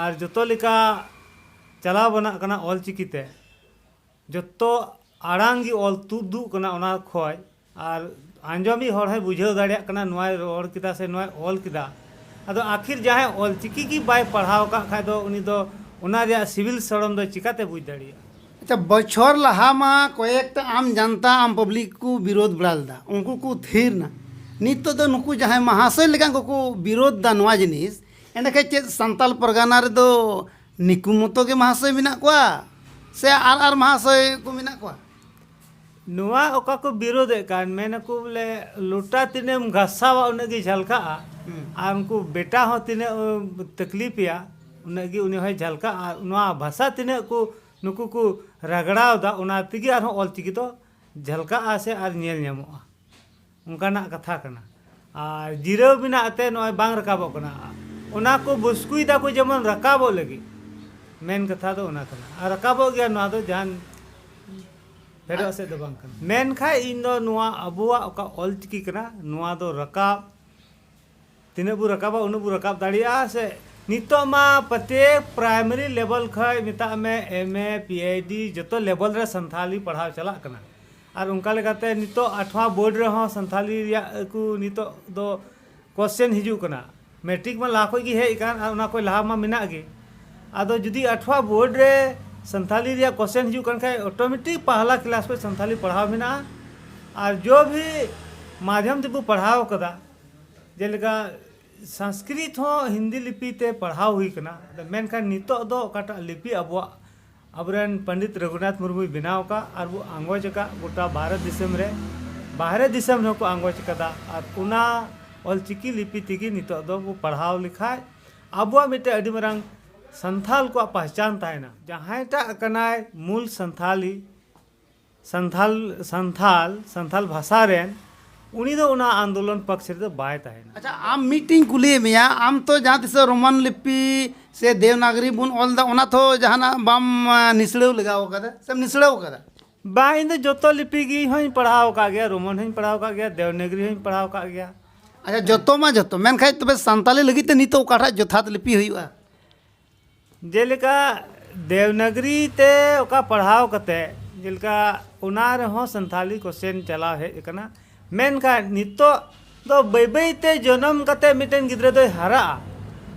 S1: ᱟᱨ ᱡᱚᱛᱚ ᱞᱮᱠᱟ ᱪᱟᱞᱟᱣ ᱵᱟᱱᱟᱜ ᱠᱟᱱᱟ ᱚᱞ ᱪᱤᱠᱤ ᱛᱮ ᱡᱚᱛᱚ ᱟᱲᱟᱝ ᱜᱮ ᱚᱞ ᱛᱩᱫᱩᱜ ᱠᱟᱱᱟ ᱚᱱᱟ ᱠᱷᱚᱱ ᱟᱨ ᱟᱸᱡᱚᱢᱤᱡ ᱦᱚᱲ ᱦᱚᱸᱭ ᱵᱩᱡᱷᱟᱹᱣ ᱫᱟᱲᱮᱭᱟᱜ ᱠᱟᱱᱟ ᱱᱚᱣᱟᱭ ᱨᱚᱲ ᱠᱮᱫᱟ ᱥᱮ ᱱᱚᱣᱟᱭ ᱚᱞ ᱠᱮᱫᱟ ᱟᱫᱚ ᱟᱹᱠᱷᱤᱨ ᱡᱟᱦᱟᱸᱭ ᱚᱞ ᱪᱤᱠᱤ ᱜᱮ ᱵᱟᱭ ᱯᱟᱲᱦᱟᱣ ᱟᱠᱟᱫ ᱠᱷᱟᱱ ᱫᱚ ᱩᱱᱤ ᱫᱚ ᱚᱱᱟ ᱨᱮᱭᱟᱜ ᱥᱤᱵᱤᱞ ᱥᱚᱲᱚᱢ ᱫᱚ ᱪᱤᱠᱟᱹᱛᱮ ᱵᱩᱡᱽ ᱫᱟᱲᱮᱭᱟᱜᱼᱟ ᱟᱪᱪᱷᱟ ᱵᱚᱪᱷᱚᱨ ᱞᱟᱦᱟ ᱢᱟ ᱠᱚᱭᱮᱠᱴᱟ ᱟᱢ ᱡᱟᱱᱛᱟ ᱟᱢ ᱯᱟᱵᱽᱞᱤᱠ ᱠᱚ ᱵᱤᱨᱳᱫ ᱵᱟᱲᱟ ᱞᱮᱫᱟ ᱩᱱᱠᱩ ᱠᱚ ᱛᱷᱤᱨ ᱱᱟ ᱱᱤᱛᱚᱜ ᱫᱚ ᱱᱩᱠᱩ ᱡᱟᱦᱟᱸᱭ ᱢᱟᱦᱟᱥᱚᱭ ᱞᱮᱠᱟᱱ ᱠᱚᱠᱚ ᱵᱤᱨᱳᱫ ᱫᱟ ᱱᱚᱣᱟ ᱡᱤᱱᱤᱥ ᱮᱸᱰᱮ ᱠᱷᱟᱱ ᱪᱮᱫ ᱥᱟᱱᱛᱟᱲ ᱯᱟᱨᱜᱟᱱᱟ ᱨᱮᱫᱚ ᱱᱤᱠᱩ ᱢᱚᱛᱚ ᱜᱮ ᱢᱟᱦᱟᱥᱚᱭ ᱢᱮᱱᱟᱜ ᱠᱚᱣᱟ ᱥᱮ ᱟᱨ ᱟᱨ ᱢᱟᱦᱟᱥᱚᱭ ᱠᱚ ᱢᱮᱱᱟᱜ ᱠᱚᱣᱟ ᱱᱚᱣᱟ ᱚᱠᱟ ᱠᱚ ᱵᱤᱨᱳᱫᱮᱫ ᱠᱟᱱ ᱢᱮᱱᱟᱠᱚ ᱵᱚᱞᱮ ᱞᱚᱴᱟ ᱛᱤᱱᱟᱹᱜ ᱮᱢ ᱜᱷᱟᱥᱟᱣᱟ ᱩᱱᱟᱹᱜ ᱜᱮ ᱡᱷᱟᱞᱠᱟᱜᱼᱟ ᱟᱨ ᱩᱱᱠᱩ ᱵᱮᱴᱟ ᱦᱚᱸ ᱛᱤᱱᱟᱹᱜ ᱛᱟᱠᱞᱤᱯᱮᱭᱟ ᱩᱱᱟᱹᱜ ᱜᱮ ᱩᱱᱤ ᱦᱚᱸᱭ ᱡᱷᱟᱞᱠᱟᱜᱼᱟ ᱟᱨ ᱱᱚᱣᱟ ᱵᱷᱟᱥᱟ ᱛᱤᱱᱟᱹᱜ ᱠᱚ ᱱᱩᱠᱩ ᱠᱚ ᱨᱟᱜᱽᱲᱟᱣᱫᱟ ᱚᱱᱟ ᱛᱮᱜᱮ ᱟᱨᱦᱚᱸ ᱚᱞ ᱪᱤᱠᱤ ᱫᱚ ᱡᱷᱟᱞᱠᱟᱜᱼᱟ ᱥᱮ ᱟᱨ ᱧᱮᱞ ᱧᱟᱢᱚᱜᱼᱟ ᱚᱱᱠᱟᱱᱟᱜ ᱠᱟᱛᱷᱟ ᱠᱟᱱᱟ ᱟᱨ ᱡᱤᱨᱟᱹᱣ ᱢᱮᱱᱟᱜ ᱛᱮ ᱱᱚᱜᱼᱚᱭ ᱵᱟᱝ ᱨᱟᱠᱟᱵᱚᱜ ᱠᱟᱱᱟ ᱚᱱᱟ ᱠᱚ ᱵᱩᱥᱠᱩᱭ ᱫᱟᱠᱚ ᱡᱮᱢᱚᱱ ᱨᱟᱠᱟᱵᱚᱜ ᱞᱟᱹᱜᱤᱫ ᱢᱮᱱ ᱠᱟᱛᱷᱟ ᱫᱚ ᱚᱱᱟ ᱠᱟᱱᱟ ᱟᱨ ᱨᱟᱠᱟᱵᱚᱜ ᱜᱮᱭᱟ ᱱᱚᱣᱟ ᱫᱚ ᱡᱟᱦᱟᱱ ᱯᱷᱮᱰᱚᱜ ᱥᱮᱫ ᱫᱚ ᱵᱟᱝ ᱠᱟᱱᱟ ᱢᱮᱱᱠᱷᱟᱱ ᱤᱧ ᱫᱚ ᱱᱚᱣᱟ ᱟᱵᱚᱣᱟᱜ ᱚᱠᱟ ᱚᱞ ᱪᱤᱠᱤ ᱠᱟᱱᱟ ᱱᱚᱣᱟ ᱫᱚ ᱨᱟᱠᱟᱵ ᱛᱤᱱᱟᱹᱜ ᱵᱚ ᱨᱟᱠᱟᱵᱟ ᱩᱱᱟᱹᱜ ᱵᱚ ᱨᱟᱠᱟᱵ ᱫᱟᱲᱮᱭᱟᱜᱼᱟ ᱥᱮ ᱱᱤᱛᱚᱜ ᱢᱟ ᱯᱨᱚᱛᱮᱠ ᱯᱨᱟᱭᱢᱟᱨᱤ ᱞᱮᱵᱮᱞ ᱠᱷᱚᱱ ᱢᱮᱛᱟᱜ ᱢᱮ ᱮᱢ ᱮ ᱯᱤ ᱮᱭᱤᱪ ᱰᱤ ᱡᱚᱛᱚ ᱞᱮᱵᱮᱞ ᱨᱮ ᱥᱟᱱᱛᱷᱟᱞᱤ ᱯᱟᱲᱦᱟᱣ ᱪᱟᱞᱟᱜ ᱠᱟᱱᱟ ᱟᱨ ᱚᱱᱠᱟ ᱞᱮᱠᱟᱛᱮ ᱱᱤᱛᱚᱜ ᱟᱴᱷᱣᱟ ᱵᱳᱨᱰ ᱨᱮᱦᱚᱸ ᱥᱟᱱᱛᱷᱟᱞᱤ ᱨᱮᱭᱟᱜ ᱟᱹᱠᱩ ᱱᱤᱛᱚᱜ ᱫᱚ ᱠᱚᱥᱪᱮᱱ ᱦᱤᱡᱩᱜ ᱠᱟᱱᱟ ᱢᱮᱴᱨᱤᱠ ᱢᱟ ᱞᱟᱦᱟ ᱠᱷᱚᱱ ᱜᱮ ᱦᱮᱡ ᱟᱠᱟᱱ ᱟᱨ ᱚᱱᱟ ᱠᱷᱚᱱ ᱞᱟᱦᱟ ᱢᱟ ᱢᱮᱱᱟᱜ ᱜᱮ ᱟᱫᱚ ᱡᱩᱫᱤ ᱟᱴᱷᱣᱟ ᱵᱳᱨᱰ ᱨᱮ ᱥᱟᱱᱛᱷᱟᱞᱤ ᱨᱮᱭᱟᱜ ᱠᱚᱥᱪᱮᱱ ᱦᱤᱡᱩᱜ ᱠᱟᱱ ᱠᱷᱟᱱ ᱚᱴᱳᱢᱮᱴᱤᱠ ᱯᱟᱦᱞᱟ ᱠᱞᱟᱥ ᱠᱷᱚᱱ ᱥᱟᱱᱛᱷᱟᱞᱤ ᱯᱟᱲᱦᱟᱣ ᱢᱮᱱᱟᱜᱼᱟ ᱟᱨ ᱡᱚᱵᱽ ᱦᱤ ᱢᱟᱫᱷᱭᱚᱢ ᱛᱮᱵᱚ ᱯᱟᱲᱦᱟᱣ ᱠᱟᱫᱟ ᱡᱮᱞᱮᱠᱟ ᱥᱟᱝᱥᱠᱨᱤᱛ ᱦᱚᱸ ᱦᱤᱱᱫᱤ ᱞᱤᱯᱤ ᱛᱮ ᱯᱟᱲᱦᱟᱣ ᱦᱩᱭ ᱠᱟᱱᱟ ᱢᱮᱱᱠᱷᱟᱱ ᱱᱤᱛᱚᱜ ᱫᱚ ᱚᱠᱟᱴᱟᱜ ᱞᱤᱯᱤ ᱟᱵᱚᱣᱟᱜ ᱟᱵᱚᱨᱮᱱ ᱯᱚᱱᱰᱤᱛ ᱨᱚᱜᱷᱩᱱᱟᱛᱷ ᱢᱩᱨᱢᱩᱭ ᱵᱮᱱᱟᱣ ᱟᱠᱟᱫ ᱟᱨ ᱵᱚ ᱟᱸᱜᱚᱡ ᱟᱠᱟᱫ ᱜᱚᱴᱟ ᱵᱷᱟᱨᱚᱛ ᱫᱤᱥᱚᱢ ᱨᱮ ᱵᱟᱦᱨᱮ ᱫᱤᱥᱚᱢ ᱨᱮᱦᱚᱸ ᱠᱚ ᱟᱸᱜᱚᱡ ᱟᱠᱟᱫᱟ ᱟᱨ ᱚᱱᱟ ᱚᱞ ᱪᱤᱠᱤ ᱞᱤᱯᱤ ᱛᱮᱜᱮ ᱱᱤᱛᱚᱜ ᱫᱚ ᱵᱚ ᱯᱟᱲᱦᱟᱣ ᱞᱮᱠᱷᱟᱱ ᱟᱵᱚᱣᱟᱜ ᱢᱤᱫᱴᱮᱱ ᱟᱹᱰᱤ ᱢᱟᱨᱟᱝ ᱥᱟᱱᱛᱟᱲ ᱠᱚᱣᱟᱜ ᱯᱮᱦᱪᱟᱱ ᱛᱟᱦᱮᱱᱟ ᱡᱟᱦᱟᱸᱭᱴᱟᱜ ᱠᱟᱱᱟᱭ ᱢᱩᱞ ᱥᱟᱱᱛᱟᱲᱤ ᱥᱟᱱᱛᱷᱟᱞ ᱥᱟᱱᱛᱷᱟᱞ ᱥᱟᱱᱛᱷᱟᱞ ᱵᱷᱟᱥᱟ ᱨᱮᱱ ᱩᱱᱤ ᱫᱚ ᱚᱱᱟ ᱟᱱᱫᱳᱞᱚᱱ ᱯᱟᱠᱥ ᱨᱮ ᱫᱚ ᱵᱟᱭ ᱛᱟᱦᱮᱱᱟ᱾ ᱟᱪᱪᱷᱟ ᱟᱢ ᱢᱤᱫ ᱴᱤᱧ ᱠᱩᱞᱤᱭᱮᱫ ᱢᱮᱭᱟ ᱟᱢ ᱛᱚ ᱡᱟᱦᱟᱸ ᱛᱤᱥᱚᱜ ᱨᱳᱢᱟᱱ ᱞᱤᱯᱤ ᱥᱮ ᱫᱮᱣᱱᱟᱜᱽᱨᱤ ᱵᱚᱱ ᱚᱞ ᱮᱫᱟ ᱚᱱᱟ ᱛᱚ ᱡᱟᱦᱟᱱᱟᱜ ᱵᱟᱢ ᱱᱤᱥᱲᱟᱹᱣ ᱞᱮᱜᱟᱣ ᱟᱠᱟᱫᱟ ᱥᱮᱢ ᱱᱤᱥᱲᱟᱹᱣ ᱟᱠᱟᱫᱟ? ᱵᱟᱝ ᱤᱧ ᱫᱚ ᱡᱚᱛᱚ ᱞᱤᱯᱤ ᱜᱮ ᱦᱚᱧ ᱯᱟᱲᱦᱟᱣ ᱟᱠᱟᱫ ᱜᱮᱭᱟ ᱨᱳᱢᱟᱱ ᱦᱚᱧ ᱯᱟᱲᱦᱟᱣ ᱟᱠᱟᱫ ᱜᱮᱭᱟ ᱫᱮᱣᱱᱟᱜᱽᱨᱤ ᱦᱚᱧ ᱯᱟᱲᱦᱟᱣ ᱟᱠᱟᱫ ᱜᱮᱭᱟ᱾ ᱟᱪᱪᱷᱟ ᱡᱚᱛᱚ ᱢᱟ ᱡᱚᱛᱚ ᱢᱮᱱᱠᱷᱟᱱ ᱛᱚᱵᱮ ᱥᱟᱱᱛᱟᱞᱤ ᱞᱟᱹᱜᱤᱫ ᱛᱮ ᱱᱤᱛᱚᱜ ᱚᱠᱟᱴᱟᱜ ᱡᱚᱛᱷᱟᱛ ᱞᱤᱯᱤ ᱦᱩᱭᱩᱜᱼᱟ? ᱡᱮᱞᱮᱠᱟ ᱫᱮᱣᱱᱟᱜᱽᱨᱤ ᱛᱮ ᱚᱠᱟ ᱯᱟᱲᱦᱟᱣ ᱠᱟᱛᱮ ᱡᱮᱞᱮᱠᱟ ᱚᱱᱟ ᱨᱮᱦᱚᱸ ᱥᱟᱱᱛᱷᱟᱞᱤ ᱠᱚᱥᱪᱮᱱ ᱪᱟᱞᱟᱣ ᱦᱮᱡ ᱟᱠᱟᱱᱟ ᱢᱮᱱᱠᱷᱟᱱ ᱱᱤᱛᱚᱜ ᱫᱚ ᱵᱟᱹᱭ ᱵᱟᱹᱭ ᱛᱮ ᱡᱚᱱᱚᱢ ᱠᱟᱛᱮ ᱢᱤᱫᱴᱮᱱ ᱜᱤᱫᱽᱨᱟᱹ ᱫᱚᱭ ᱦᱟᱨᱟᱜᱼᱟ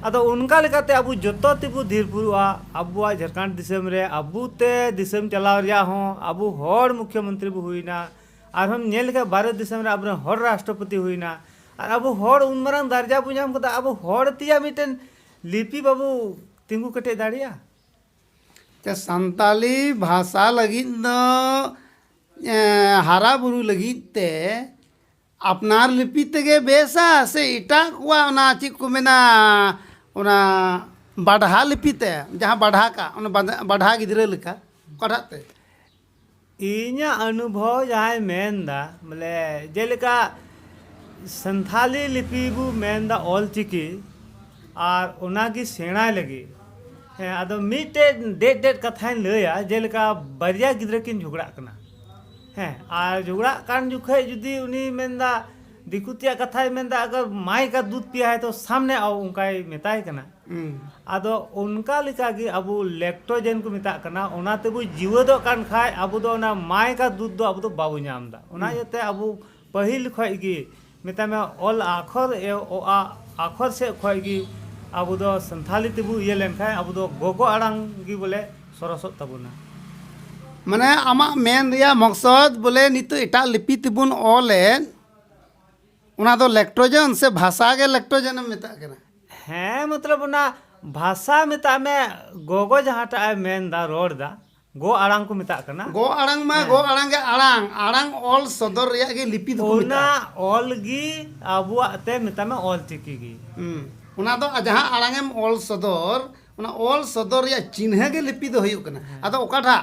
S1: ᱟᱫᱚ ᱚᱱᱠᱟ ᱞᱮᱠᱟᱛᱮ ᱟᱵᱚ ᱡᱚᱛᱚ ᱛᱮᱵᱚ ᱫᱷᱤᱨ ᱯᱩᱨᱩᱜᱼᱟ ᱟᱵᱚᱣᱟᱜ ᱡᱷᱟᱲᱠᱷᱚᱸᱰ ᱫᱤᱥᱚᱢ ᱨᱮ ᱟᱵᱚ ᱛᱮ ᱫᱤᱥᱚᱢ ᱪᱟᱞᱟᱣ ᱨᱮᱭᱟᱜ ᱦᱚᱸ ᱟᱵᱚ ᱦᱚᱲ ᱢᱩᱠᱷᱭᱚ ᱢᱚᱱᱛᱨᱤ ᱵᱚ ᱦᱩᱭᱮᱱᱟ ᱟᱨᱦᱚᱸᱢ ᱧᱮᱞ ᱞᱮᱠᱷᱟᱱ ᱵᱷᱟᱨᱚᱛ ᱫᱤᱥᱚᱢ ᱨᱮ ᱟᱵᱚ ᱨᱮᱱ ᱦᱚᱲ ᱨᱟᱥᱴᱨᱚᱯᱚᱛᱤ ᱦᱩᱭᱮᱱᱟ ᱟᱨ ᱟᱵᱚ ᱦᱚᱲ ᱩᱱ ᱢᱟᱨᱟᱝ ᱫᱟᱨᱡᱟ ᱵᱚ ᱧᱟᱢ ᱠᱮᱫᱟ ᱟᱵᱚ ᱦᱚᱲ ᱛᱮᱭᱟᱜ ᱢᱤᱫᱴᱮᱱ ᱞᱤᱯᱤ ᱵᱟᱵᱚ ᱛᱤᱸᱜᱩ ᱠᱮᱴᱮᱡ ᱫᱟᱲᱮᱭᱟᱜᱼᱟ ᱛᱮ ᱥᱟᱱᱛᱟᱞᱤ ᱵᱷᱟᱥᱟ ᱞᱟᱹᱜᱤᱫ ᱫᱚ ᱦᱟᱨᱟ ᱵᱩᱨᱩ ᱞᱟᱹᱜᱤᱫ ᱛᱮ ᱟᱯᱱᱟᱨ ᱞᱤᱯᱤ ᱛᱮᱜᱮ ᱵᱮᱥᱟ ᱥᱮ ᱮᱴᱟᱜ ᱠᱚᱣᱟᱜ ᱚᱱᱟ ᱪᱮᱫ ᱠᱚ ᱢᱮᱱᱟ ᱚᱱᱟ ᱵᱟᱰᱷᱟ ᱞᱤᱯᱤ ᱛᱮ ᱡᱟᱦᱟᱸ ᱵᱟᱰᱷᱟ ᱠᱟᱜ ᱚᱱᱟ ᱵᱟᱰᱷᱟ ᱜᱤᱫᱽᱨᱟᱹ ᱞᱮᱠᱟ ᱚᱠᱟᱴᱟᱜ ᱛᱮ ᱤᱧᱟᱹᱜ ᱚᱱᱩᱵᱷᱚᱵᱽ ᱡᱟᱦᱟᱸᱭ ᱢᱮᱱᱫᱟ ᱵᱚᱞᱮ ᱡᱮᱞᱮᱠᱟ ᱥᱟᱱᱛᱷᱟᱞᱤ ᱞᱤᱯᱤ ᱵᱚ ᱢᱮᱱᱫᱟ ᱚᱞ ᱪᱤᱠᱤ ᱟᱨ ᱚᱱᱟ ᱜᱮ ᱥᱮᱬᱟᱭ ᱞᱟᱹᱜᱤᱫ ᱦᱮᱸ ᱟᱫᱚ ᱢᱤᱫᱴᱮᱡ ᱰᱮᱡ ᱰᱮᱡ ᱠᱟᱛᱷᱟᱧ ᱞᱟᱹᱭᱟ ᱡᱮᱞᱮᱠᱟ ᱵᱟᱨᱭᱟ ᱜᱤᱫᱽᱨᱟᱹ ᱠᱤᱱ ᱡᱷᱚᱜᱽᱲᱟᱜ ᱠᱟᱱᱟ ᱦᱮᱸ ᱟᱨ ᱡᱷᱚᱜᱽᱲᱟᱜ ᱠᱟᱱ ᱡᱚᱠᱷᱚᱡ ᱡᱩᱫᱤ ᱩᱱᱤᱭ ᱢᱮᱱᱫᱟ ᱫᱤᱠᱩ ᱛᱮᱭᱟᱜ ᱠᱟᱛᱷᱟᱭ ᱢᱮᱱᱫᱟ ᱟᱜᱟᱨ ᱢᱟᱭ ᱠᱟ ᱫᱩᱫᱷ ᱯᱤᱭᱟ ᱦᱮ ᱛᱳ ᱥᱟᱢᱱᱮ ᱟᱣ ᱚᱱᱠᱟᱭ ᱢᱮᱛᱟᱭ ᱠᱟᱱᱟ ᱟᱫᱚ ᱚᱱᱠᱟ ᱞᱮᱠᱟ ᱜᱮ ᱟᱵᱚ ᱞᱮᱠᱴᱳᱡᱮᱱ ᱠᱚ ᱢᱮᱛᱟᱜ ᱠᱟᱱᱟ ᱚᱱᱟ ᱛᱮᱵᱚ ᱡᱤᱣᱮᱫᱚᱜ ᱠᱟᱱ ᱠᱷᱟᱡ ᱟᱵᱚ ᱫᱚ ᱚᱱᱟ ᱢᱟᱭᱠᱟ ᱫᱩᱫᱷ ᱫᱚ ᱟᱵᱚ ᱫᱚ ᱵᱟᱵᱚ ᱧᱟᱢ ᱮᱫᱟ ᱚᱱᱟ ᱤᱭᱟᱹᱛᱮ ᱟᱵᱚ ᱯᱟᱹᱦᱤᱞ ᱠᱷᱚᱡ ᱜᱮ ᱢᱮᱛᱟᱭ ᱢᱮ ᱚᱞ ᱟᱠᱷᱚᱨ ᱮ ᱚ ᱟ ᱟᱠᱷᱚᱨ ᱥᱮᱡ ᱠᱷᱚᱡ ᱜᱮ ᱟᱵᱚ ᱫᱚ ᱥᱟᱱᱛᱷᱟᱞᱤ ᱛᱮᱵᱚ ᱤᱭᱟᱹ ᱞᱮᱱᱠᱷᱟᱡ ᱟᱵᱚ ᱫᱚ ᱜᱚᱜᱚ ᱟᱲᱟᱝ ᱜᱮ ᱵᱚᱞᱮ ᱥᱚᱨᱚᱥᱚᱜ ᱛᱟᱵᱚᱱᱟ ᱢᱟᱱᱮ ᱟᱢᱟᱜ ᱢᱮᱱ ᱨᱮᱭᱟᱜ ᱢᱚᱠᱥᱚᱫ ᱵᱚᱞᱮ ᱱᱤᱛᱚᱜ ᱮᱴᱟᱜ ᱞᱤᱯᱤ ᱛᱮᱵᱚᱱ ᱚᱞᱮᱫ ᱚᱱᱟ ᱫᱚ ᱞᱮᱠᱴᱨᱳᱡᱮᱱ ᱥᱮ ᱵᱷᱟᱥᱟ ᱜᱮ ᱞᱮᱠᱴᱨᱳᱡᱮᱱ ᱮᱢ ᱢᱮᱛᱟᱜ ᱠᱟᱱᱟ ᱦᱮᱸ ᱢᱚᱛᱞᱚᱵ ᱚᱱᱟ ᱵᱷᱟᱥᱟ ᱢᱮᱛᱟᱜ ᱢᱮ ᱜᱚᱜᱚ ᱡᱟᱦᱟᱸᱴᱟᱜ ᱮ ᱢᱮᱱᱫᱟ ᱨᱚᱲ ᱫᱟ ᱜᱚ ᱟᱲᱟᱝ ᱠᱚ ᱢᱮᱛᱟᱜ ᱠᱟᱱᱟ ᱜᱚ ᱟᱲᱟᱝ ᱢᱟ ᱜᱚ ᱟᱲᱟᱝ ᱜᱮ ᱟᱲᱟᱝ ᱟᱲᱟᱝ ᱚᱞ ᱥᱚᱫᱚᱨ ᱨᱮᱭᱟᱜ ᱜᱮ ᱞᱤᱯᱤ ᱫᱚᱠᱚ ᱚᱱᱟ ᱢᱮᱛᱟᱜᱼᱟ ᱚᱞ ᱜᱮ ᱟᱵᱚᱣᱟᱜ ᱛᱮ ᱢᱮᱛᱟᱜ ᱢᱮ ᱚᱞ ᱪᱤᱠᱤ ᱜᱮ ᱦᱩᱸ, ᱚᱱᱟ ᱫᱚ ᱡᱟᱦᱟᱸ ᱟᱲᱟᱝ ᱮᱢ ᱚᱞ ᱥᱚᱫᱚᱨ ᱚᱱᱟ ᱚᱞ ᱥᱚᱫᱚᱨ ᱨᱮᱭᱟᱜ ᱪᱤᱱᱦᱟᱹ ᱜᱮ ᱞᱤᱯᱤ ᱫᱚ ᱦᱩᱭᱩᱜ ᱠᱟᱱᱟ ᱟᱫᱚ ᱚᱠᱟᱴᱟᱜ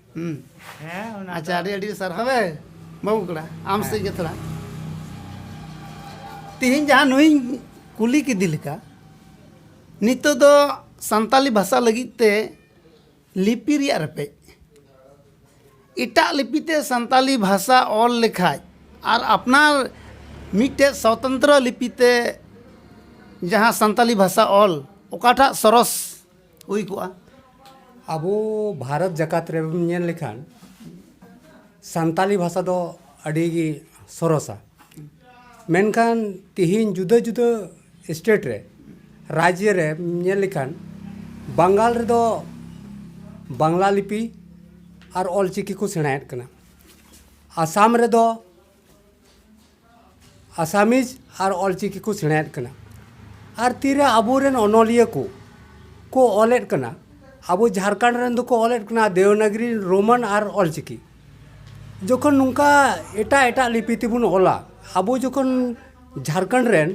S1: ᱦᱩᱸ ᱦᱮᱸ ᱚᱱᱟ ᱟᱪᱪᱷᱟ ᱟᱹᱰᱤ ᱟᱹᱰᱤ ᱥᱟᱨᱦᱟᱣ ᱮ ᱵᱟᱹᱵᱩ ᱠᱚᱲᱟ ᱟᱢ ᱥᱮᱫ ᱜᱮ ᱛᱷᱚᱲᱟ ᱛᱤᱦᱤᱧ ᱡᱟᱦᱟᱸ ᱱᱩᱭᱤᱧ ᱠᱩᱞᱤ ᱠᱮᱫᱮ ᱞᱮᱠᱟ ᱱᱤᱛᱚᱜ ᱫᱚ ᱥᱟᱱᱛᱟᱞᱤ ᱵᱷᱟᱥᱟ ᱞᱟᱹᱜᱤᱫ ᱛᱮ ᱞᱤᱯᱤ ᱨᱮᱭᱟᱜ ᱨᱮᱯᱮᱡ ᱮᱴᱟᱜ ᱞᱤᱯᱤ ᱛᱮ ᱥᱟᱱᱛᱟᱞᱤ ᱵᱷᱟᱥᱟ ᱚᱞ ᱞᱮᱠᱷᱟᱡ ᱟᱨ ᱟᱯᱱᱟᱨ ᱢᱤᱫᱴᱮᱡ ᱥᱚᱛᱚᱱᱛᱨᱚ ᱞᱤᱯᱤ ᱛᱮ ᱡᱟᱦᱟᱸ ᱥᱟᱱᱛᱟᱞᱤ ᱵᱷᱟᱥᱟ ᱚᱞ ᱚᱠᱟᱴᱟᱜ ᱥᱚᱨᱚᱥ ᱦᱩᱭ ᱠᱚᱜᱼᱟ ᱟᱵᱚ ᱵᱷᱟᱨᱚᱛ ᱡᱟᱠᱟᱛ ᱨᱮᱵᱚᱱ ᱧᱮᱞ ᱞᱮᱠᱷᱟᱱ ᱥᱟᱱᱛᱟᱞᱤ ᱵᱷᱟᱥᱟ ᱫᱚ ᱟᱹᱰᱤ ᱜᱮ ᱥᱚᱨᱚᱥᱟ ᱢᱮᱱᱠᱷᱟᱱ ᱛᱤᱦᱤᱧ ᱡᱩᱫᱟᱹ ᱡᱩᱫᱟᱹ ᱥᱴᱮᱴ ᱨᱮ ᱨᱟᱡᱽᱡᱚ ᱨᱮ ᱧᱮᱞ ᱞᱮᱠᱷᱟᱱ ᱵᱟᱝᱜᱟᱞ ᱨᱮᱫᱚ ᱵᱟᱝᱞᱟ ᱞᱤᱯᱤ ᱟᱨ ᱚᱞᱪᱤᱠᱤ ᱠᱚ ᱥᱮᱬᱟᱭᱮᱫ ᱠᱟᱱᱟ ᱟᱥᱟᱢ ᱨᱮᱫᱚ ᱟᱥᱟᱢᱤᱡ ᱟᱨ ᱚᱞᱪᱤᱠᱤ ᱠᱚ ᱥᱮᱬᱟᱭᱮᱫ ᱠᱟᱱᱟ ᱟᱨ ᱛᱤᱨᱮ ᱟᱵᱚᱨᱮᱱ ᱚᱱᱚᱞᱤᱭᱟᱹ ᱠᱚ ᱠᱚ ᱚᱞᱮᱫ ᱠᱟᱱᱟ ᱟᱵᱚ ᱡᱷᱟᱲᱠᱷᱚᱸᱰ ᱨᱮᱱ ᱫᱚᱠᱚ ᱚᱞᱮᱫ ᱠᱟᱱᱟ ᱫᱮᱵᱽᱱᱟᱜᱚᱨᱤ ᱨᱳᱢᱟᱱ ᱟᱨ ᱚᱞᱪᱤᱠᱤ ᱡᱚᱠᱷᱚᱱ ᱱᱚᱝᱠᱟ ᱮᱴᱟᱜ ᱮᱴᱟᱜ ᱞᱤᱯᱤ ᱛᱮᱵᱚᱱ ᱚᱞᱟ ᱟᱵᱚ ᱡᱚᱠᱷᱚᱱ ᱡᱷᱟᱲᱠᱷᱚᱸᱰ ᱨᱮᱱ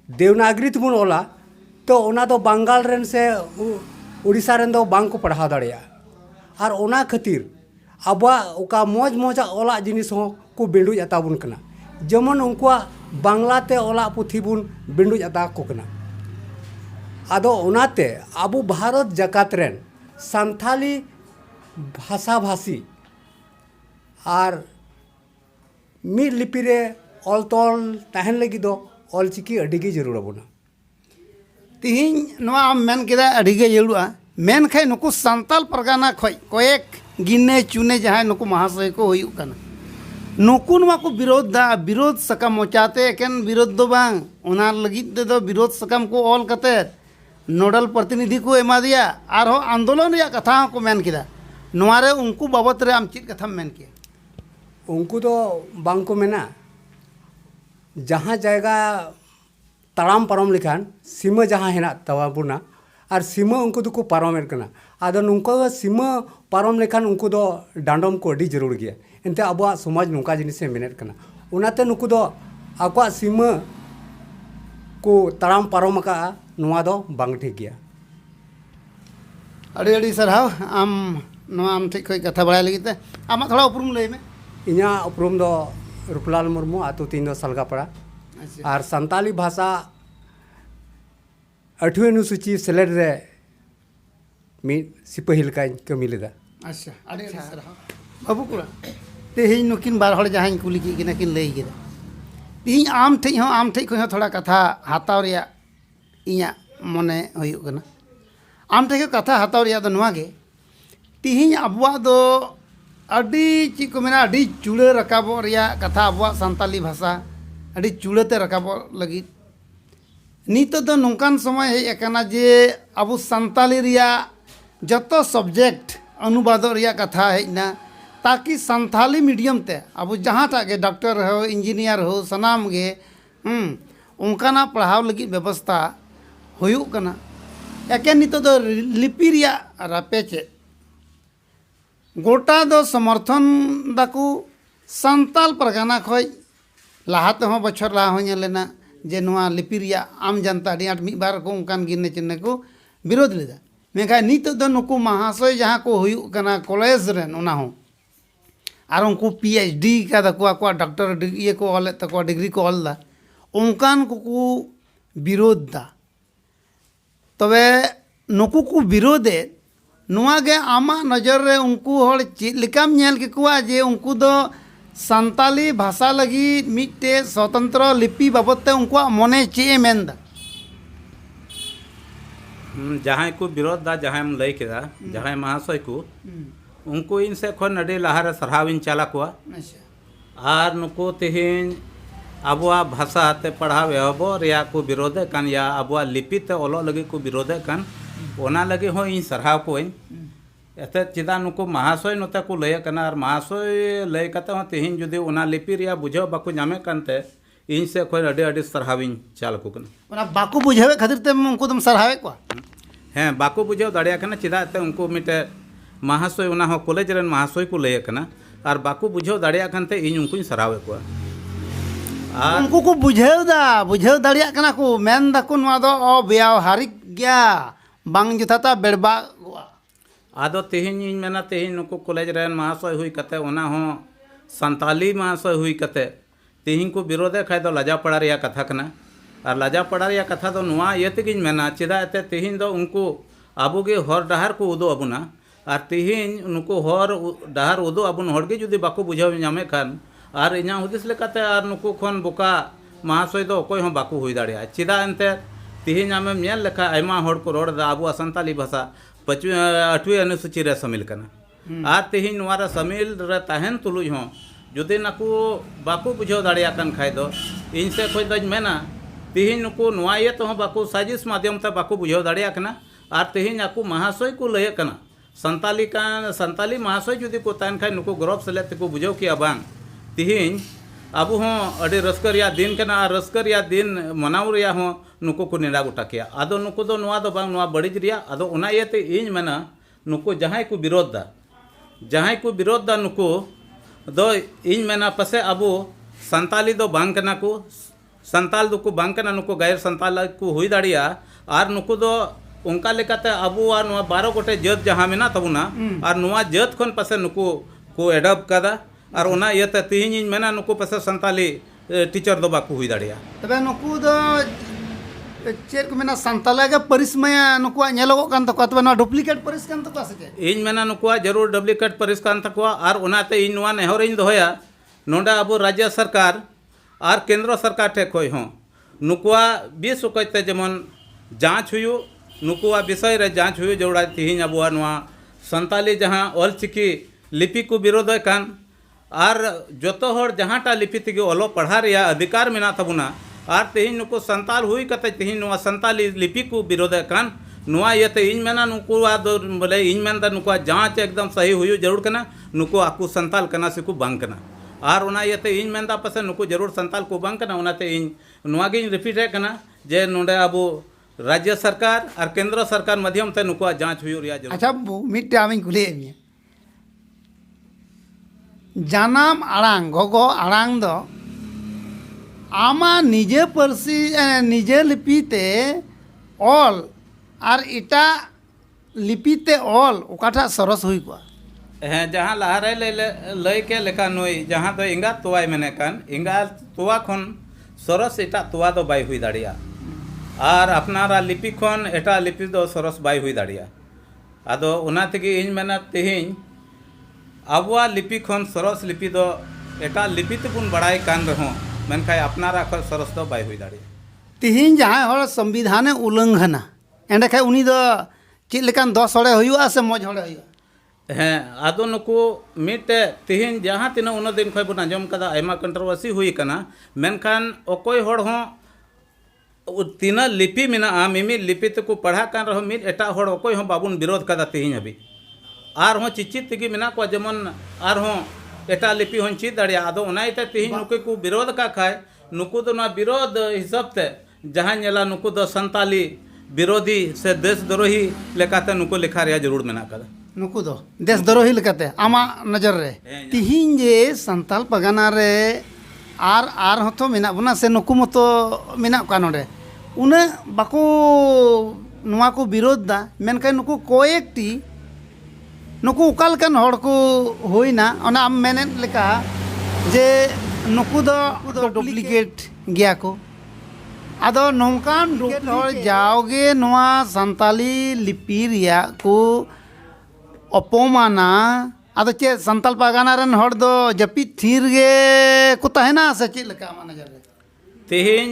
S1: ᱫᱮᱣᱱᱟᱜᱽᱨᱤ ᱛᱮᱵᱚᱱ ᱚᱞᱟ ᱛᱚ ᱚᱱᱟ ᱫᱚ ᱵᱟᱝᱜᱟᱞ ᱨᱮᱱ ᱥᱮ ᱳᱰᱤᱥᱟ ᱨᱮᱱ ᱫᱚ ᱵᱟᱝ ᱠᱚ ᱯᱟᱲᱦᱟᱣ ᱫᱟᱲᱮᱭᱟᱜᱼᱟ ᱟᱨ ᱚᱱᱟ ᱠᱷᱟᱹᱛᱤᱨ ᱟᱵᱚᱣᱟᱜ ᱚᱠᱟ ᱢᱚᱡᱽ ᱢᱚᱡᱽ ᱟᱜ ᱚᱞᱟᱜ ᱡᱤᱱᱤᱥ ᱦᱚᱸ ᱠᱚ ᱵᱮᱰᱩᱡ ᱟᱛᱟ ᱵᱚᱱ ᱠᱟᱱᱟ ᱡᱮᱢᱚᱱ ᱩᱱᱠᱩᱣᱟᱜ ᱵᱟᱝᱞᱟ ᱛᱮ ᱚᱞᱟᱜ ᱯᱩᱛᱷᱤ ᱵᱚᱱ ᱵᱮᱰᱩᱡ ᱟᱛᱟ ᱠᱚ ᱠᱟᱱᱟ ᱟᱫᱚ ᱚᱱᱟᱛᱮ ᱟᱵᱚ ᱵᱷᱟᱨᱚᱛ ᱡᱟᱠᱟᱛ ᱨᱮᱱ ᱥᱟᱱᱛᱟᱲᱤ ᱵᱷᱟᱥᱟᱼᱵᱷᱟᱥᱤ ᱟᱨ ᱢᱤᱫ ᱞᱤᱯᱤ ᱨᱮ ᱚᱞ ᱛᱚᱞ ᱛᱟᱦᱮᱱ ᱞᱟᱹᱜᱤᱫ ᱫᱚ ᱚᱞ ᱪᱤᱠᱤ ᱟᱹᱰᱤ ᱜᱮ ᱡᱟᱹᱨᱩᱲ ᱟᱵᱚᱱᱟ ᱛᱮᱦᱮᱧ ᱱᱚᱣᱟ ᱢᱮᱱ ᱠᱮᱫᱟ ᱟᱹᱰᱤ ᱜᱮ ᱡᱟᱹᱨᱩᱲᱟ ᱢᱮᱱᱠᱷᱟᱱ ᱱᱩᱠᱩ ᱥᱟᱱᱛᱟᱲ ᱯᱟᱨᱜᱟᱱᱟ ᱠᱷᱚᱱ ᱠᱚᱭᱮᱠ ᱜᱤᱱᱮ ᱪᱩᱱᱮ ᱡᱟᱦᱟᱸᱭ ᱱᱩᱠᱩ ᱢᱚᱦᱟᱥᱚᱭ ᱠᱚ ᱦᱩᱭᱩᱜ ᱠᱟᱱᱟ ᱱᱩᱠᱩ ᱱᱚᱣᱟ ᱠᱚ ᱵᱤᱨᱳᱫᱷ ᱫᱟ ᱵᱤᱨᱳᱫᱷ ᱥᱟᱠᱟᱢ ᱢᱚᱪᱟ ᱛᱮ ᱮᱠᱮᱱ ᱵᱤᱨᱳᱫᱷ ᱫᱚ ᱵᱟᱝ ᱚᱱᱟ ᱞᱟᱹᱜᱤᱫ ᱛᱮᱫᱚ ᱵᱤᱨᱳᱫᱷ ᱥᱟᱠᱟᱢ ᱠᱚ ᱚᱞ ᱠᱟᱛᱮ ᱱᱚᱰᱟᱞ ᱯᱨᱚᱛᱤᱱᱤᱫᱷᱤ ᱠᱚ ᱮᱢᱟ ᱫᱮᱭᱟ ᱟᱨᱦᱚᱸ ᱟᱱᱫᱳᱞᱚᱱ ᱨᱮᱭᱟᱜ ᱠᱟᱛᱷᱟ ᱦᱚᱸᱠᱚ ᱢᱮᱱ ᱠᱮᱫᱟ ᱱᱚᱣᱟ ᱨᱮ ᱩᱱᱠᱩ ᱵᱟᱵᱚᱫ ᱨᱮ ᱟᱢ ᱪᱮᱫ ᱠᱟᱛᱷᱟᱢ ᱢᱮᱱ ᱠᱮᱭᱟ ᱩᱱᱠᱩ ᱫᱚ ᱵᱟᱝ ᱠᱚ ᱢᱮᱱᱟ ᱡᱟᱦᱟᱸ ᱡᱟᱭᱜᱟ ᱛᱟᱲᱟᱢ ᱯᱟᱨᱚᱢ ᱞᱮᱠᱷᱟᱱ ᱥᱤᱢᱟᱹ ᱡᱟᱦᱟᱸ ᱦᱮᱱᱟᱜ ᱛᱟᱵᱚᱱᱟ ᱟᱨ ᱥᱤᱢᱟᱹ ᱩᱱᱠᱩ ᱫᱚᱠᱚ ᱯᱟᱨᱚᱢᱮᱫ ᱠᱟᱱᱟ ᱟᱫᱚ ᱱᱚᱝᱠᱟ ᱫᱚ ᱥᱤᱢᱟᱹ ᱯᱟᱨᱚᱢ ᱞᱮᱠᱷᱟᱱ ᱩᱱᱠᱩ ᱫᱚ ᱰᱟᱸᱰᱚᱢ ᱠᱚ ᱟᱹᱰᱤ ᱡᱟᱹᱨᱩᱲ ᱜᱮᱭᱟ ᱮᱱᱛᱮ ᱟᱵᱚᱣᱟᱜ ᱥᱚᱢᱟᱡᱽ ᱱᱚᱝᱠᱟ ᱡᱤᱱᱤᱥᱮ ᱢᱮᱱᱮᱫ ᱠᱟᱱᱟ ᱚᱱᱟᱛᱮ ᱱᱩᱠᱩ ᱫᱚ ᱟᱠᱚᱣᱟᱜ ᱥᱤᱢᱟᱹ ᱠᱚ ᱛᱟᱲᱟᱢ ᱯᱟᱨᱚᱢ ᱟᱠᱟᱫᱼᱟ ᱱᱚᱣᱟ ᱫᱚ ᱵᱟᱝ ᱴᱷᱤᱠ ᱜᱮᱭᱟ ᱟᱹᱰᱤ ᱟᱹᱰᱤ ᱥᱟᱨᱦᱟᱣ ᱟᱢ ᱱᱚᱣᱟ ᱟᱢ ᱴᱷᱮᱡ ᱠᱷᱚᱡ ᱠᱟᱛᱷᱟ ᱵᱟᱲᱟᱭ ᱞᱟᱹᱜᱤᱫ ᱛᱮ ᱟᱢᱟᱜ ᱛᱷᱚᱲᱟ ᱩᱯᱨᱩᱢ ᱞᱟᱹᱭ ᱢᱮ ᱤᱧᱟᱹᱜ ᱩᱯᱨᱩᱢ ᱫᱚ ᱨᱩᱯᱞᱟᱞ ᱢᱩᱨᱢᱩ ᱟᱛᱳ ᱛᱤᱧ ᱫᱚ ᱥᱟᱞᱜᱟᱯᱟᱲᱟ ᱟᱨ ᱥᱟᱱᱛᱟᱞᱤ ᱵᱷᱟᱥᱟ ᱟᱹᱴᱷᱩᱣᱟᱹ ᱚᱱᱩᱥᱩᱪᱤ ᱥᱮᱞᱮᱫ ᱨᱮ ᱢᱤᱫ ᱥᱤᱯᱟᱹᱦᱤ ᱞᱮᱠᱟᱧ ᱠᱟᱹᱢᱤ ᱞᱮᱫᱟ ᱟᱪᱪᱷᱟ ᱟᱹᱰᱤ ᱟᱹᱰᱤ ᱥᱟᱨᱦᱟᱣ ᱵᱟᱹᱵᱩ ᱠᱚᱲᱟ ᱛᱮᱦᱮᱧ ᱱᱩᱠᱤᱱ ᱵᱟᱨ ᱦᱚᱲ ᱡᱟᱦᱟᱸᱧ ᱠᱩᱞᱤ ᱠᱮᱫ ᱠᱤᱱᱟ ᱠᱤᱱ ᱞᱟᱹᱭ ᱠᱮᱫᱟ ᱛᱮᱦᱮᱧ ᱟᱢ ᱴᱷᱮᱡ ᱦᱚᱸ ᱟᱢ ᱴᱷᱮᱡ ᱠᱷᱚᱡ ᱦᱚᱸ ᱛᱷᱚᱲᱟ ᱠᱟᱛᱷᱟ ᱦᱟᱛᱟᱣ ᱨᱮᱭᱟᱜ ᱤᱧᱟᱹᱜ ᱢᱚᱱᱮ ᱦᱩᱭᱩᱜ ᱠᱟᱱᱟ ᱟᱢ ᱴᱷᱮᱱ ᱠᱷᱚᱱ ᱠᱟᱛᱷᱟ ᱦᱟᱛᱟᱣ ᱨᱮᱭᱟᱜ ᱫᱚ ᱱᱚᱣᱟ ᱜᱮ ᱛᱮᱦᱮᱧ ᱟᱵᱚᱣᱟᱜ ᱫᱚ ᱟᱹᱰᱤ ᱪᱮᱫ ᱠᱚ ᱢᱮᱱᱟ ᱟᱹᱰᱤ ᱪᱩᱲᱟᱹ ᱨᱟᱠᱟᱵᱚᱜ ᱨᱮᱭᱟᱜ ᱠᱟᱛᱷᱟ ᱟᱵᱚᱣᱟᱜ ᱥᱟᱱᱛᱟᱲᱤ ᱵᱷᱟᱥᱟ ᱟᱹᱰᱤ ᱪᱩᱲᱟᱹᱛᱮ ᱨᱟᱠᱟᱵᱚᱜ ᱞᱟᱹᱜᱤᱫ ᱱᱤᱛᱚᱜ ᱫᱚ ᱱᱚᱝᱠᱟᱱ ᱥᱚᱢᱚᱭ ᱦᱮᱡ ᱟᱠᱟᱱᱟ ᱡᱮ ᱟᱵᱚ ᱥᱟᱱᱛᱟᱲᱤ ᱨᱮᱭᱟᱜ ᱡᱚᱛᱚ ᱥᱟᱵᱡᱮᱠᱴ ᱚᱱᱩᱵᱟᱫᱚᱜ ᱨᱮᱭᱟᱜ ᱠᱟᱛᱷᱟ ᱦᱮᱡ ᱮᱱᱟ ᱛᱟᱠᱤ ᱥᱟᱱᱛᱟᱲᱤ ᱢᱤᱰᱤᱭᱟᱢ ᱛᱮ ᱟᱵᱚ ᱡᱟᱦᱟᱸᱴᱟᱜ ᱜᱮ ᱰᱚᱠᱴᱚᱨ ᱦᱳ ᱤᱧᱡᱤᱱᱤᱭᱟᱨ ᱦᱳ ᱥᱟᱱᱟᱢ ᱜᱮ ᱦᱩᱸ ᱚᱱᱠᱟᱱᱟᱜ ᱯᱟᱲᱦᱟᱣ ᱞᱟᱹᱜᱤᱫ ᱵᱮᱵᱚᱥᱛᱟ ᱦᱩᱭᱩᱜ ᱠᱟᱱᱟ ᱮᱠᱮᱱ ᱱᱤᱛᱚᱜ ᱫᱚ ᱞᱤᱯᱤ ᱨᱮᱭᱟᱜ ᱨᱟᱯᱮᱪᱮᱫ ᱜᱚᱴᱟ ᱫᱚ ᱥᱚᱢᱚᱨᱛᱷᱚᱱ ᱫᱟᱠᱚ ᱥᱟᱱᱛᱟᱞ ᱯᱟᱨᱜᱟᱱᱟ ᱠᱷᱚᱡ ᱞᱟᱦᱟ ᱛᱮᱦᱚᱸ ᱵᱚᱪᱷᱚᱨ ᱞᱟᱦᱟ ᱦᱚᱸ ᱧᱮᱞ ᱞᱮᱱᱟ ᱡᱮ ᱱᱚᱣᱟ ᱞᱤᱯᱤ ᱨᱮᱭᱟᱜ ᱟᱢ ᱡᱟᱱᱛᱟ ᱟᱹᱰᱤ ᱟᱸᱴ ᱢᱤᱫ ᱵᱟᱨ ᱠᱚ ᱚᱱᱠᱟᱱ ᱜᱤᱱᱱᱮ ᱪᱤᱱᱱᱮ ᱠᱚ ᱵᱤᱨᱳᱫᱷ ᱞᱮᱫᱟ ᱢᱮᱱᱠᱷᱟᱡ ᱱᱤᱛᱚᱜ ᱫᱚ ᱱᱩᱠᱩ ᱢᱟᱦᱟᱥᱚᱭ ᱡᱟᱦᱟᱸ ᱠᱚ ᱦᱩᱭᱩᱜ ᱠᱟᱱᱟ ᱠᱚᱞᱮᱡᱽ ᱨᱮᱱ ᱚᱱᱟ ᱦᱚᱸ ᱟᱨ ᱩᱱᱠᱩ ᱯᱤ ᱮᱭᱤᱪ ᱰᱤ ᱠᱟᱫᱟ ᱠᱚ ᱟᱠᱚᱣᱟᱜ ᱰᱚᱠᱴᱚᱨ ᱤᱭᱟᱹ ᱠᱚ ᱚᱞᱮᱫ ᱛᱟᱠᱚᱣᱟ ᱰᱤᱜᱽᱨᱤ ᱠᱚ ᱚᱞ ᱮᱫᱟ ᱚᱱᱠᱟᱱ ᱠᱚᱠᱚ ᱵᱤᱨᱳᱫᱷ ᱮᱫᱟ ᱛᱚᱵᱮ ᱱᱩᱠᱩ ᱠᱚ ᱵᱤᱨᱳᱫᱷ ᱮᱫ ᱱᱚᱣᱟ ᱜᱮ ᱟᱢᱟᱜ ᱱᱚᱡᱚᱨ ᱨᱮ ᱩᱱᱠᱩ ᱦᱚᱲ ᱪᱮᱫ ᱞᱮᱠᱟᱢ ᱧᱮᱞ ᱠᱮᱠᱚᱣᱟ ᱡᱮ ᱩᱱᱠᱩ ᱫᱚ ᱥᱟᱱᱛᱟᱞᱤ ᱵᱷᱟᱥᱟ ᱞᱟᱹᱜᱤᱫ ᱢᱤᱫᱴᱮᱡ ᱥᱚᱛᱚᱱᱛᱨᱚ ᱞᱤᱯᱤ ᱵᱟᱵᱚᱫ ᱛᱮ ᱩᱱᱠᱩᱣᱟᱜ ᱢᱚᱱᱮ ᱪᱮᱫ ᱮ ᱢᱮᱱ ᱮᱫᱟ ᱡᱟᱦᱟᱸᱭ ᱠᱚ ᱵᱤᱨᱳᱫᱷ ᱮᱫᱟ ᱡᱟᱦᱟᱸᱭᱮᱢ ᱞᱟᱹᱭ ᱠᱮᱫᱟ ᱡᱟᱦᱟᱸᱭ ᱢᱟᱦᱟᱥᱚᱭ ᱠᱚ ᱩᱱᱠᱩ ᱤᱧ ᱥᱮᱫ ᱠᱷᱚᱱ ᱟᱹᱰᱤ ᱞᱟᱦᱟᱨᱮ ᱥᱟᱨᱦᱟᱣ ᱤᱧ ᱪᱟᱞ ᱟᱠᱚᱣᱟ ᱟᱪᱪᱷᱟ ᱟᱨ ᱱᱩᱠᱩ ᱛᱮᱦᱮᱧ ᱟᱵᱚᱣᱟᱜ ᱵᱷᱟᱥᱟ ᱛᱮ ᱯᱟᱲᱦᱟᱣ ᱮᱦᱚᱵᱚᱜ ᱨᱮᱭᱟᱜ ᱠᱚ ᱵᱤᱨᱳᱫᱷᱮᱫ ᱠᱟᱱ ᱭᱟ ᱟᱵᱚᱣᱟᱜ ᱞᱤᱯᱤ ᱛᱮ ᱚᱞᱚᱜ ᱞᱟᱹᱜᱤᱫ ᱠᱚ ᱵᱤᱨᱳᱫᱷᱮᱫ ᱠᱟᱱ ᱚᱱᱟ ᱞᱟᱹᱜᱤᱫ ᱦᱚᱸ ᱤᱧ ᱥᱟᱨᱦᱟᱣ ᱠᱚᱣᱟᱹᱧ ᱮᱱᱛᱮᱫ ᱪᱮᱫᱟᱜ ᱱᱩᱠᱩ ᱢᱟᱦᱟᱥᱚᱭ ᱱᱚᱛᱮ ᱠᱚ ᱞᱟᱹᱭᱮᱫ ᱠᱟᱱᱟ ᱟᱨ ᱢᱟᱦᱟᱥᱚᱭ ᱞᱟᱹᱭ ᱠᱟᱛᱮᱫ ᱦᱚᱸ ᱛᱮᱦᱮᱧ ᱡᱩᱫᱤ ᱚᱱᱟ ᱞᱤᱯᱤ ᱨᱮᱭᱟᱜ ᱵᱩᱡᱷᱟᱹᱣ ᱵᱟᱠᱚ ᱧᱟᱢᱮᱫ ᱠᱟᱱᱛᱮ ᱤᱧ ᱥᱮᱫ ᱠᱷᱚᱱ ᱟᱹᱰᱤ ᱟᱹᱰᱤ ᱥᱟᱨᱦᱟᱣ ᱤᱧ ᱪᱟᱞ ᱟᱠᱚ ᱠᱟᱱᱟ ᱚᱱᱟ ᱵᱟᱠᱚ ᱵᱩᱡᱷᱟᱹᱣᱮᱫ ᱠᱷᱟᱹᱛᱤᱨ ᱛᱮ ᱩᱱᱠᱩ ᱫᱚᱢ ᱥᱟᱨᱦᱟᱣᱮᱫ ᱠᱚᱣᱟ ᱦᱮᱸ ᱵᱟᱠᱚ ᱵᱩᱡᱷᱟᱹᱣ ᱫᱟᱲᱮᱭᱟᱜ ᱠᱟᱱᱟ ᱪᱮᱫᱟᱜ ᱛᱮ ᱩᱱᱠᱩ ᱢᱤᱫᱴᱮᱡ ᱢᱟᱦᱟᱥᱚᱭ ᱚᱱᱟ ᱦᱚᱸ ᱠᱚᱞᱮᱡᱽ ᱨᱮᱱ ᱢᱟᱦᱟᱥᱚᱭ ᱠᱚ ᱞᱟᱹᱭᱮᱫ ᱠᱟᱱᱟ ᱟᱨ ᱵᱟᱠᱚ ᱵᱩᱡᱷᱟᱹᱣ ᱫᱟᱲᱮᱭᱟᱜ ᱠᱟᱱ ᱛᱮ ᱤᱧ ᱩᱱᱠᱩᱧ ᱥᱟᱨᱦᱟᱣᱮᱫ ᱠᱚᱣᱟ ᱟᱨ ᱩᱱᱠᱩ ᱠᱚ ᱵᱩᱡᱷᱟᱹᱣ ᱮᱫᱟ ᱵᱩᱡᱷᱟᱹᱣ ᱫᱟᱲᱮᱭᱟᱜ ᱠᱟᱱᱟ ᱠᱚ ᱢᱮᱱ ᱫᱟᱠᱚ ᱱᱚᱣᱟ ᱫᱚ ᱚᱵᱮᱣᱦᱟᱨᱤᱠ ᱜᱮᱭᱟ ᱵᱟᱝ ᱡᱚᱛᱷᱟᱛᱟ ᱵᱮᱲᱵᱟᱜᱚᱜᱼᱟ ᱟᱫᱚ ᱛᱮᱦᱮᱧ ᱤᱧ ᱢᱮᱱᱟ ᱛᱮᱦᱮᱧ ᱱᱩᱠᱩ ᱠᱚᱞᱮᱡᱽ ᱨᱮᱱ ᱢᱟᱦᱟᱥᱚᱭ ᱦᱩᱭ ᱠᱟᱛᱮ ᱚᱱᱟ ᱦᱚᱸ ᱥᱟᱱᱛᱟᱞᱤ ᱢᱟᱦᱟᱥᱚᱭ ᱦᱩᱭ ᱠᱟᱛᱮ ᱛᱮᱦᱮᱧ ᱠᱚ ᱵᱤᱨᱳᱫᱮᱫ ᱠᱷᱟᱱ ᱫᱚ ᱞᱟᱡᱟᱣ ᱯᱟᱲᱟ ᱨᱮᱭᱟᱜ ᱠᱟᱛᱷᱟ ᱠᱟᱱᱟ ᱟᱨ ᱞᱟᱡᱟᱣ ᱯᱟᱲᱟ ᱨᱮᱭᱟᱜ ᱠᱟᱛᱷᱟ ᱫᱚ ᱱᱚᱣᱟ ᱤᱭᱟᱹ ᱛᱮᱜᱮᱧ ᱢᱮᱱᱟ ᱪᱮᱫᱟᱜ ᱮᱱᱛᱮ ᱛᱮᱦᱮᱧ ᱫᱚ ᱩᱱᱠᱩ ᱟᱵᱚ ᱜᱮ ᱦᱚᱨ ᱰᱟᱦᱟᱨ ᱠᱚ ᱩᱫᱩᱜ ᱟᱵᱚᱱᱟ ᱟᱨ ᱛᱮᱦᱮᱧ ᱱᱩᱠᱩ ᱦᱚᱨ ᱰᱟᱦᱟᱨ ᱩᱫᱩᱜ ᱟᱵᱚᱱ ᱦᱚᱲ ᱜᱮ ᱡᱩᱫᱤ ᱵᱟᱠᱚ ᱵᱩᱡᱷᱟᱹᱣ ᱧᱟᱢᱮᱫ ᱠᱷᱟᱱ ᱟᱨ ᱤᱧᱟᱹᱜ ᱦᱩᱫᱤᱥ ᱞᱮᱠᱟᱛᱮ ᱟᱨ ᱱᱩᱠᱩ ᱠᱷᱚᱱ ᱵᱚᱠᱟ ᱢᱟᱦᱟᱥᱚᱭ ᱫᱚ ᱚᱠᱚᱭ ᱦᱚᱸ ᱵᱟᱠᱚ ᱦᱩᱭ ᱫᱟᱲᱮᱭᱟᱜᱼᱟ ᱪᱮᱫᱟᱜ ᱮᱱᱛᱮ ᱛᱮᱦᱮᱧ ᱟᱢᱮᱢ ᱧᱮᱞ ᱞᱮᱠᱷᱟᱱ ᱟᱭᱢᱟ ᱦᱚᱲ ᱠᱚ ᱨᱚᱲ ᱮᱫᱟ ᱟᱵᱚᱣᱟᱜ ᱥᱟᱱᱛᱟᱞᱤ ᱵᱷᱟᱥᱟ ᱯᱟᱸᱪᱣᱤ ᱟᱴᱷᱣᱤ ᱟᱱᱩᱥᱩᱪᱤ ᱨᱮ ᱥᱟᱢᱤᱞ ᱠᱟᱱᱟ ᱟᱨ ᱛᱮᱦᱮᱧ ᱱᱚᱣᱟ ᱨᱮ ᱥᱟᱢᱤᱞ ᱨᱮ ᱛᱟᱦᱮᱱ ᱛᱩᱞᱩᱡ ᱦᱚᱸ ᱡᱩᱫᱤ ᱱᱟᱠᱚ ᱵᱟᱠᱚ ᱵᱩᱡᱷᱟᱹᱣ ᱫᱟᱲᱮᱭᱟᱜ ᱠᱟᱱ ᱠᱷᱟᱡ ᱫᱚ ᱤᱧ ᱥᱮᱫ ᱠᱷᱚᱡ ᱫᱚᱧ ᱢᱮᱱᱟ ᱛᱮᱦᱮᱧ ᱱᱩᱠᱩ ᱱᱚᱣᱟ ᱤᱭᱟᱹ ᱛᱮᱦᱚᱸ ᱵᱟᱠᱚ ᱥᱟᱡᱤᱥ ᱢᱟᱫᱽᱫᱷᱚᱢ ᱛᱮ ᱵᱟᱠᱚ ᱵᱩᱡᱷᱟᱹᱣ ᱫᱟᱲᱮᱭᱟᱜ ᱠᱟᱱᱟ ᱟᱨ ᱛᱮᱦᱮᱧ ᱟᱠᱚ ᱢᱟᱦᱟᱥᱚᱭ ᱠᱚ ᱞᱟᱹᱭᱮᱫ ᱠᱟᱱᱟ ᱥᱟᱱᱛᱟᱞᱤ ᱠᱟᱱ ᱥᱟᱱᱛᱟᱞᱤ ᱢᱟᱦᱟᱥᱚᱭ ᱡᱩᱫᱤ ᱠᱚ ᱛᱟᱦᱮᱱ ᱠᱷᱟᱡ ᱱᱩᱠᱩ ᱜᱚᱨᱚᱵᱽ ᱥᱮᱞᱮᱫ ᱛᱮᱠᱚ ᱵᱩᱡᱷᱟᱹᱣ ᱠᱮᱭᱟ ᱵᱟᱝ ᱛᱮᱦᱮᱧ ᱟᱵᱚ ᱦᱚᱸ ᱟᱹᱰᱤ ᱨᱟᱹᱥᱠᱟᱹ ᱨᱮᱭᱟᱜ ᱫᱤᱱ ᱠᱟᱱᱟ ᱟᱨ ᱨᱟᱹᱥᱠᱟᱹ ᱨᱮᱭᱟᱜ ᱫᱤᱱ ᱢᱟᱱᱟᱣ ᱨᱮᱭᱟᱜ ᱦᱚᱸ ᱱᱩᱠᱩ ᱠᱚ ᱱᱮᱰᱟ ᱜᱚᱴᱟ ᱠᱮᱭᱟ ᱟᱫᱚ ᱱᱩᱠᱩ ᱫᱚ ᱱᱚᱣᱟ ᱫᱚ ᱵᱟᱝ ᱱᱚᱣᱟ ᱵᱟᱹᱲᱤᱡ ᱨᱮᱭᱟᱜ ᱟᱫᱚ ᱚᱱᱟ ᱤᱭᱟᱹ ᱛᱮ ᱤᱧ ᱢᱮᱱᱟ ᱱᱩᱠᱩ ᱡᱟᱦᱟᱸᱭ ᱠᱚ ᱵᱤᱨᱳᱫᱷ ᱮᱫᱟ ᱡᱟᱦᱟᱸᱭ ᱠᱚ ᱵᱤᱨᱳᱫᱷ ᱮᱫᱟ ᱱᱩᱠᱩ ᱫᱚ ᱤᱧ ᱢᱮᱱᱟ ᱯᱟᱥᱮᱡ ᱟᱵᱚ ᱥᱟᱱᱛᱟᱞᱤ ᱫᱚ ᱵᱟᱝ ᱠᱟᱱᱟ ᱠᱚ ᱥᱟᱱᱛᱟᱞ ᱫᱚᱠᱚ ᱵᱟᱝ ᱠᱟᱱᱟ ᱱᱩᱠᱩ ᱜᱟᱭᱮᱨ ᱥᱟᱱᱛᱟᱞ ᱠᱚ ᱦᱩᱭ ᱫᱟᱲᱮᱭᱟᱜᱼᱟ ᱟᱨ ᱱᱩᱠᱩ ᱫᱚ ᱚᱱᱠᱟ ᱞᱮᱠᱟᱛᱮ ᱟᱵᱚᱣᱟᱜ ᱱᱚᱣᱟ ᱵᱟᱨᱚ ᱜᱚᱴᱮᱡ ᱡᱟᱹᱛ ᱡᱟᱦᱟᱸ ᱢᱮᱱᱟᱜ ᱛᱟᱵᱚᱱᱟ ᱟᱨ ᱱᱚᱣᱟ ᱡᱟᱹᱛ ᱠᱷᱚᱱ ᱯᱟᱥᱮᱡ ᱱᱩᱠᱩ ᱠᱚ ᱮᱰᱚᱯᱴ ᱟᱠᱟᱫᱟ ᱟᱨ ᱚᱱᱟ ᱤᱭᱟᱹᱛᱮ ᱛᱮᱦᱮᱧ ᱤᱧ ᱢᱮᱱᱟ ᱱᱩᱠᱩ ᱯᱟᱥᱮ ᱥᱟᱱᱛᱟᱞᱤ ᱴᱤᱪᱟᱨ ᱫᱚ ᱵᱟᱠᱚ ᱦᱩᱭ ᱫᱟᱲᱮᱭᱟᱜᱼᱟ ᱛᱚᱵᱮ ᱱᱩᱠᱩ ᱫᱚ ᱪᱮᱫ ᱠᱚ ᱢᱮᱱᱟ ᱥᱟᱱᱛᱟᱞᱤ ᱜᱮ ᱯᱟᱹᱨᱤᱥ ᱢᱟ ᱱᱩᱠᱩᱣᱟᱜ ᱧᱮᱞᱚᱜᱚᱜ ᱠᱟᱱ ᱛᱟᱠᱚᱣᱟ ᱛᱚᱵᱮ ᱱᱚᱣᱟ ᱰᱩᱯᱞᱤᱠᱮᱴ ᱯᱟᱹᱨᱤᱥ ᱠᱟᱱ ᱛᱟᱠᱚᱣᱟ ᱥᱮ ᱪᱮᱫ ᱤᱧ ᱢᱮᱱᱟ ᱱᱩᱠᱩᱣᱟᱜ ᱡᱟᱹᱨᱩᱲ ᱰᱩᱯᱞᱤᱠᱮᱴ ᱯᱟᱹᱨᱤᱥ ᱠᱟᱱ ᱛᱟᱠᱚᱣᱟ ᱟᱨ ᱚᱱᱟᱛᱮ ᱤᱧ ᱱᱚᱣᱟ ᱱᱮᱦᱚᱨᱤᱧ ᱫᱚᱦᱚᱭᱟ ᱱᱚᱰᱮ ᱟᱵᱚ ᱨᱟᱡᱽᱡᱚ ᱥᱚᱨᱠᱟᱨ ᱟᱨ ᱠᱮᱱᱫᱨᱚ ᱥᱚᱨᱠᱟᱨ ᱴᱷᱮᱱ ᱠᱷᱚᱱ ᱦᱚᱸ ᱱᱩᱠᱩᱣᱟᱜ ᱵᱮᱥ ᱚᱠᱚᱡ ᱛᱮ ᱡᱮᱢᱚᱱ ᱡᱟᱸᱪ ᱦᱩᱭᱩᱜ ᱱᱩᱠᱩᱣᱟᱜ ᱵᱤᱥᱚᱭ ᱨᱮ ᱡᱟᱸᱪ ᱦᱩᱭᱩᱜ ᱡᱟᱹᱨᱩᱲᱟ ᱛᱮᱦᱮᱧ ᱟᱵᱚᱣᱟᱜ ᱱᱚᱣᱟ ᱥᱟᱱᱛᱟᱲᱤ ᱡᱟᱦᱟᱸ ᱚᱞ ᱪᱤᱠᱤ ᱞᱤᱯᱤ ᱠᱚ ᱵᱤᱨᱳᱫᱷᱮᱫ ᱠᱟᱱ ᱟᱨ ᱡᱚᱛᱚ ᱦᱚᱲ ᱡᱟᱦᱟᱸᱴᱟᱜ ᱞᱤᱯᱤ ᱛᱮᱜᱮ ᱚᱞᱚᱜ ᱯᱟᱲᱦᱟᱜ ᱨᱮᱭᱟᱜ ᱚᱫᱷᱤᱠᱟᱨ ᱢᱮᱱᱟᱜ ᱛᱟᱵᱚᱱᱟ ᱟᱨ ᱛᱮᱦᱮᱧ ᱱᱩᱠᱩ ᱥᱟᱱᱛᱟᱲ ᱦᱩᱭ ᱠᱟᱛᱮᱫ ᱛᱮᱦᱮᱧ ᱱᱚᱣᱟ ᱥᱟᱱᱛᱟᱲᱤ ᱞᱤᱯᱤ ᱠᱚ ᱵᱤᱨᱳᱫᱷᱮᱫ ᱠᱟᱱ ᱱᱚᱣᱟ ᱤᱭᱟᱹᱛᱮ ᱤᱧ ᱢᱮᱱᱟ ᱱᱩᱠᱩᱣᱟᱜ ᱫᱚ ᱵᱚᱞᱮ ᱤᱧ ᱢᱮᱱᱫᱟ ᱱᱩᱠᱩᱣᱟᱜ ᱡᱟᱸᱪ ᱮᱠᱫᱚᱢ ᱥᱟᱹᱦᱤ ᱦᱩᱭᱩᱜ ᱡᱟᱹᱨᱩᱲ ᱠᱟᱱᱟ ᱱᱩᱠᱩ ᱟᱠᱚ ᱥᱟᱱᱛᱟᱲ ᱠᱟᱱᱟ ᱥᱮᱠᱚ ᱵᱟᱝ ᱠᱟᱱᱟ ᱟᱨ ᱚᱱᱟ ᱤᱭᱟᱹ ᱛᱮ ᱤᱧ ᱢᱮᱱ ᱮᱫᱟ ᱯᱟᱥᱮ ᱱᱩᱠᱩ ᱡᱟᱹᱨᱩᱲ ᱥᱟᱱᱛᱟᱲ ᱠᱚ ᱵᱟᱝ ᱠᱟᱱᱟ ᱚᱱᱟ ᱛᱮ ᱤᱧ ᱱᱚᱣᱟ ᱜᱮᱧ ᱨᱤᱯᱤᱴ ᱮᱫ ᱠᱟᱱᱟ ᱡᱮ ᱱᱚᱰᱮ ᱟᱵᱚ ᱨᱟᱡᱽᱡᱚ ᱥᱚᱨᱠᱟᱨ ᱟᱨ ᱠᱮᱱᱫᱨᱚ ᱥᱚᱨᱠᱟᱨ ᱢᱟᱫᱷᱭᱚᱢ ᱛᱮ ᱱᱩᱠᱩᱣᱟᱜ ᱡᱟᱸᱪ ᱦᱩᱭᱩᱜ ᱨᱮᱭᱟᱜ ᱡᱟᱹᱨᱩᱲ ᱟᱪᱪᱷᱟ ᱵᱟᱹᱵᱩ ᱢᱤᱫᱴᱮᱡ ᱟᱢᱤᱧ ᱠᱩᱞᱤᱭᱮᱫ ᱢᱮᱭᱟ ᱡᱟᱱᱟᱢ ᱟᱲᱟᱝ ᱜᱚᱜᱚ ᱟᱲᱟᱝ ᱫᱚ ᱟᱢᱟᱜ ᱱᱤᱡᱮ ᱯᱟᱹᱨᱥᱤ ᱱᱤᱡᱮ ᱞᱤᱯᱤ ᱛᱮ ᱚᱞ ᱟᱨ ᱮᱴᱟᱜ ᱞᱤᱯᱤ ᱛᱮ ᱚᱞ ᱚᱠᱟᱴᱟᱜ ᱥᱚᱨᱚᱥ ᱦᱩᱭ ᱠᱚᱜᱼᱟ? ᱦᱮᱸ ᱡᱟᱦᱟᱸ ᱞᱟᱦᱟ ᱨᱮ ᱞᱟᱹᱭ ᱞᱮ ᱞᱟᱹᱭ ᱠᱮᱫ ᱞᱮᱠᱟ ᱱᱩᱭ ᱡᱟᱦᱟᱸ ᱫᱚ ᱮᱸᱜᱟᱛ ᱛᱚᱣᱟᱭ ᱢᱮᱱᱮᱫ ᱠᱟᱱ ᱮᱸᱜᱟᱛ ᱛᱚᱣᱟ ᱠᱷᱚᱱ ᱥᱚᱨᱚᱥ ᱮᱴᱟᱜ ᱛᱚᱣᱟ ᱫᱚ ᱵᱟᱭ ᱦᱩᱭ ᱫᱟᱲᱮᱭᱟᱜᱼᱟ ᱟᱨ ᱟᱯᱱᱟᱨᱟᱜ ᱞᱤᱯᱤ ᱠᱷᱚᱱ ᱮᱴᱟᱜ ᱞᱤᱯᱤ ᱫᱚ ᱥᱚᱨᱚᱥ ᱵᱟᱭ ᱦᱩᱭ ᱫᱟᱲᱮᱭᱟᱜᱼᱟ ᱟᱫᱚ ᱚᱱᱟ ᱛᱮᱜᱮ ᱤᱧ ᱢᱮᱱᱟ ᱛᱮᱦᱮᱧ ᱟᱵᱚᱣᱟᱜ ᱞᱤᱯᱤ ᱠᱷᱚᱱ ᱥᱚᱨᱚᱥ ᱞᱤᱯᱤ ᱫᱚ ᱮᱴᱟᱜ ᱞᱤᱯᱤ ᱛᱮᱵᱚᱱ ᱵᱟᱲᱟᱭ ᱠᱟᱱ ᱨᱮᱦᱚᱸ ᱢᱮᱱᱠᱷᱟᱱ ᱟᱯᱱᱟᱨᱟᱜ ᱠᱷᱚᱱ ᱥᱚᱨᱚᱥ ᱫᱚ ᱵᱟᱭ ᱦᱩᱭ ᱫᱟᱲᱮᱭᱟᱜᱼᱟ᱾ ᱛᱮᱦᱮᱧ ᱡᱟᱦᱟᱸᱭ ᱦᱚᱲ ᱥᱚᱝᱵᱤᱫᱷᱟᱱᱮ ᱩᱞᱞᱚᱝᱜᱷᱚᱱᱟ ᱮᱸᱰᱮ ᱠᱷᱟᱱ ᱩᱱᱤ ᱫᱚ ᱪᱮᱫ ᱞᱮᱠᱟᱱ ᱫᱚᱥ ᱦᱚᱲᱮ ᱦᱩᱭᱩᱜᱼᱟ ᱥᱮ ᱢᱚᱡᱽ ᱦᱚᱲᱮ ᱦᱩᱭᱩᱜᱼᱟ ᱦᱮᱸ ᱟᱫᱚ ᱱᱩᱠᱩ ᱢᱤᱫᱴᱮᱡ ᱛᱤᱦᱤᱧ ᱡᱟᱦᱟᱸ ᱛᱤᱱᱟᱹᱜ ᱩᱱᱟᱹᱜ ᱫᱤᱱ ᱠᱷᱚᱱ ᱵᱚᱱ ᱟᱸᱡᱚᱢ ᱠᱟᱫᱟ ᱟᱭᱢᱟ ᱠᱚᱱᱴᱨᱳᱵᱷᱟᱨᱥᱤ ᱦᱩᱭ ᱠᱟᱱᱟ ᱢᱮᱱᱠᱷᱟᱱ ᱚᱠᱚᱭ ᱦᱚᱲ ᱦᱚᱸ ᱛᱤᱱᱟᱹᱜ ᱞᱤᱯᱤ ᱢᱮᱱᱟᱜᱼᱟ ᱢᱤᱢᱤᱫ ᱞᱤᱯᱤ ᱛᱮᱠᱚ ᱯᱟᱲᱦᱟᱜ ᱠᱟᱱ ᱨᱮᱦᱚᱸ ᱢᱤᱫ ᱮᱴᱟᱜ ᱦᱚᱲ ᱚᱠᱚᱭ ᱦᱚᱸ ᱵᱟᱵᱚᱱ ᱵᱤᱨᱳᱫᱷ ᱠᱟᱫᱟ ᱛᱤᱦᱤᱧ ᱦᱟᱹᱵᱤᱡ ᱟᱨᱦᱚᱸ ᱪᱮᱪᱮᱫ ᱛᱮᱜᱮ ᱢᱮᱱᱟᱜ ᱠᱚᱣᱟ ᱡᱮᱢᱚᱱ ᱟᱨᱦᱚᱸ ᱮᱴᱟᱜ ᱞᱤᱯᱤ ᱦᱚᱧ ᱪᱮᱫ ᱫᱟᱲᱮᱭᱟᱜᱼᱟ ᱟᱫᱚ ᱚᱱᱟ ᱤᱭᱟᱹᱛᱮ ᱛᱤᱦᱤᱧ ᱱᱩᱠᱩ ᱠᱚ ᱵᱤᱨᱳᱫᱷ ᱟᱠᱟᱫ ᱠᱷᱟᱱ ᱱᱩᱠᱩ ᱫᱚ ᱱᱚᱣᱟ ᱵᱤᱨᱳᱫᱷ ᱦᱤᱥᱟᱹᱵ ᱛᱮ ᱡᱟᱦᱟᱸ ᱧᱮᱞᱟ ᱱᱩᱠᱩ ᱫᱚ ᱥᱟᱱᱛᱟᱞᱤ ᱵᱤᱨᱳᱫᱷᱤ ᱥᱮ ᱫᱮᱥ ᱫᱨᱳᱦᱤ ᱞᱮᱠᱟᱛᱮ ᱱᱩᱠᱩ ᱞᱮᱠᱷᱟ ᱨᱮᱭᱟᱜ ᱡᱟᱹᱨᱩᱲ ᱢᱮᱱᱟᱜ ᱟᱠᱟᱫᱟ ᱱᱩᱠᱩ ᱫᱚ ᱫᱮᱥ ᱫᱨᱳᱦᱤ ᱞᱮᱠᱟᱛᱮ ᱟᱢᱟᱜ ᱱᱚᱡᱚᱨ ᱨᱮ ᱛᱤᱦᱤᱧ ᱡᱮ ᱥᱟᱱᱛᱟᱞ ᱯᱟᱨᱜᱟᱱᱟ ᱨᱮ ᱟᱨ ᱟᱨ ᱦᱚᱸᱛᱚ ᱢᱮᱱᱟᱜ ᱵᱚᱱᱟ ᱥᱮ ᱱᱩᱠᱩ ᱢᱚᱛᱚ ᱢᱮᱱᱟᱜ ᱠᱚᱣᱟ ᱱᱚᱰᱮ ᱩᱱᱟᱹᱜ ᱵᱟᱠᱚ ᱱᱚᱣᱟ ᱠᱚ ᱵᱤᱨᱳᱫᱷ ᱮᱫᱟ ᱢᱮᱱᱠᱷᱟᱱ ᱱᱩᱠᱩ ᱠᱚᱭᱮᱠᱴᱤ ᱱᱩᱠᱩ ᱚᱠᱟ ᱞᱮᱠᱟᱱ ᱦᱚᱲ ᱠᱚ ᱦᱩᱭᱮᱱᱟ ᱚᱱᱟ ᱟᱢ ᱢᱮᱱᱮᱫ ᱞᱮᱠᱟ ᱡᱮ ᱱᱩᱠᱩ ᱫᱚ ᱰᱩᱯᱞᱤᱠᱮᱴ ᱜᱮᱭᱟ ᱠᱚ ᱟᱫᱚ ᱱᱚᱝᱠᱟᱱ ᱰᱩᱯᱞᱤᱠᱮᱴ ᱦᱚᱲ ᱡᱟᱣᱜᱮ ᱱᱚᱣᱟ ᱥᱟᱱᱛᱟᱞᱤ ᱞᱤᱯᱤ ᱨᱮᱭᱟᱜ ᱠᱚ ᱚᱯᱚᱢᱟᱱᱟ ᱟᱫᱚ ᱪᱮᱫ ᱥᱟᱱᱛᱟᱲ ᱯᱟᱨᱜᱟᱱᱟ ᱨᱮᱱ ᱦᱚᱲ ᱫᱚ ᱡᱟᱹᱯᱤᱫ ᱛᱷᱤᱨ ᱜᱮᱠᱚ ᱛᱟᱦᱮᱱᱟ ᱥᱮ ᱪᱮᱫ ᱞᱮᱠᱟ ᱟᱢᱟᱜ ᱱᱚᱡᱚᱨ ᱨᱮ ᱛᱮᱦᱮᱧ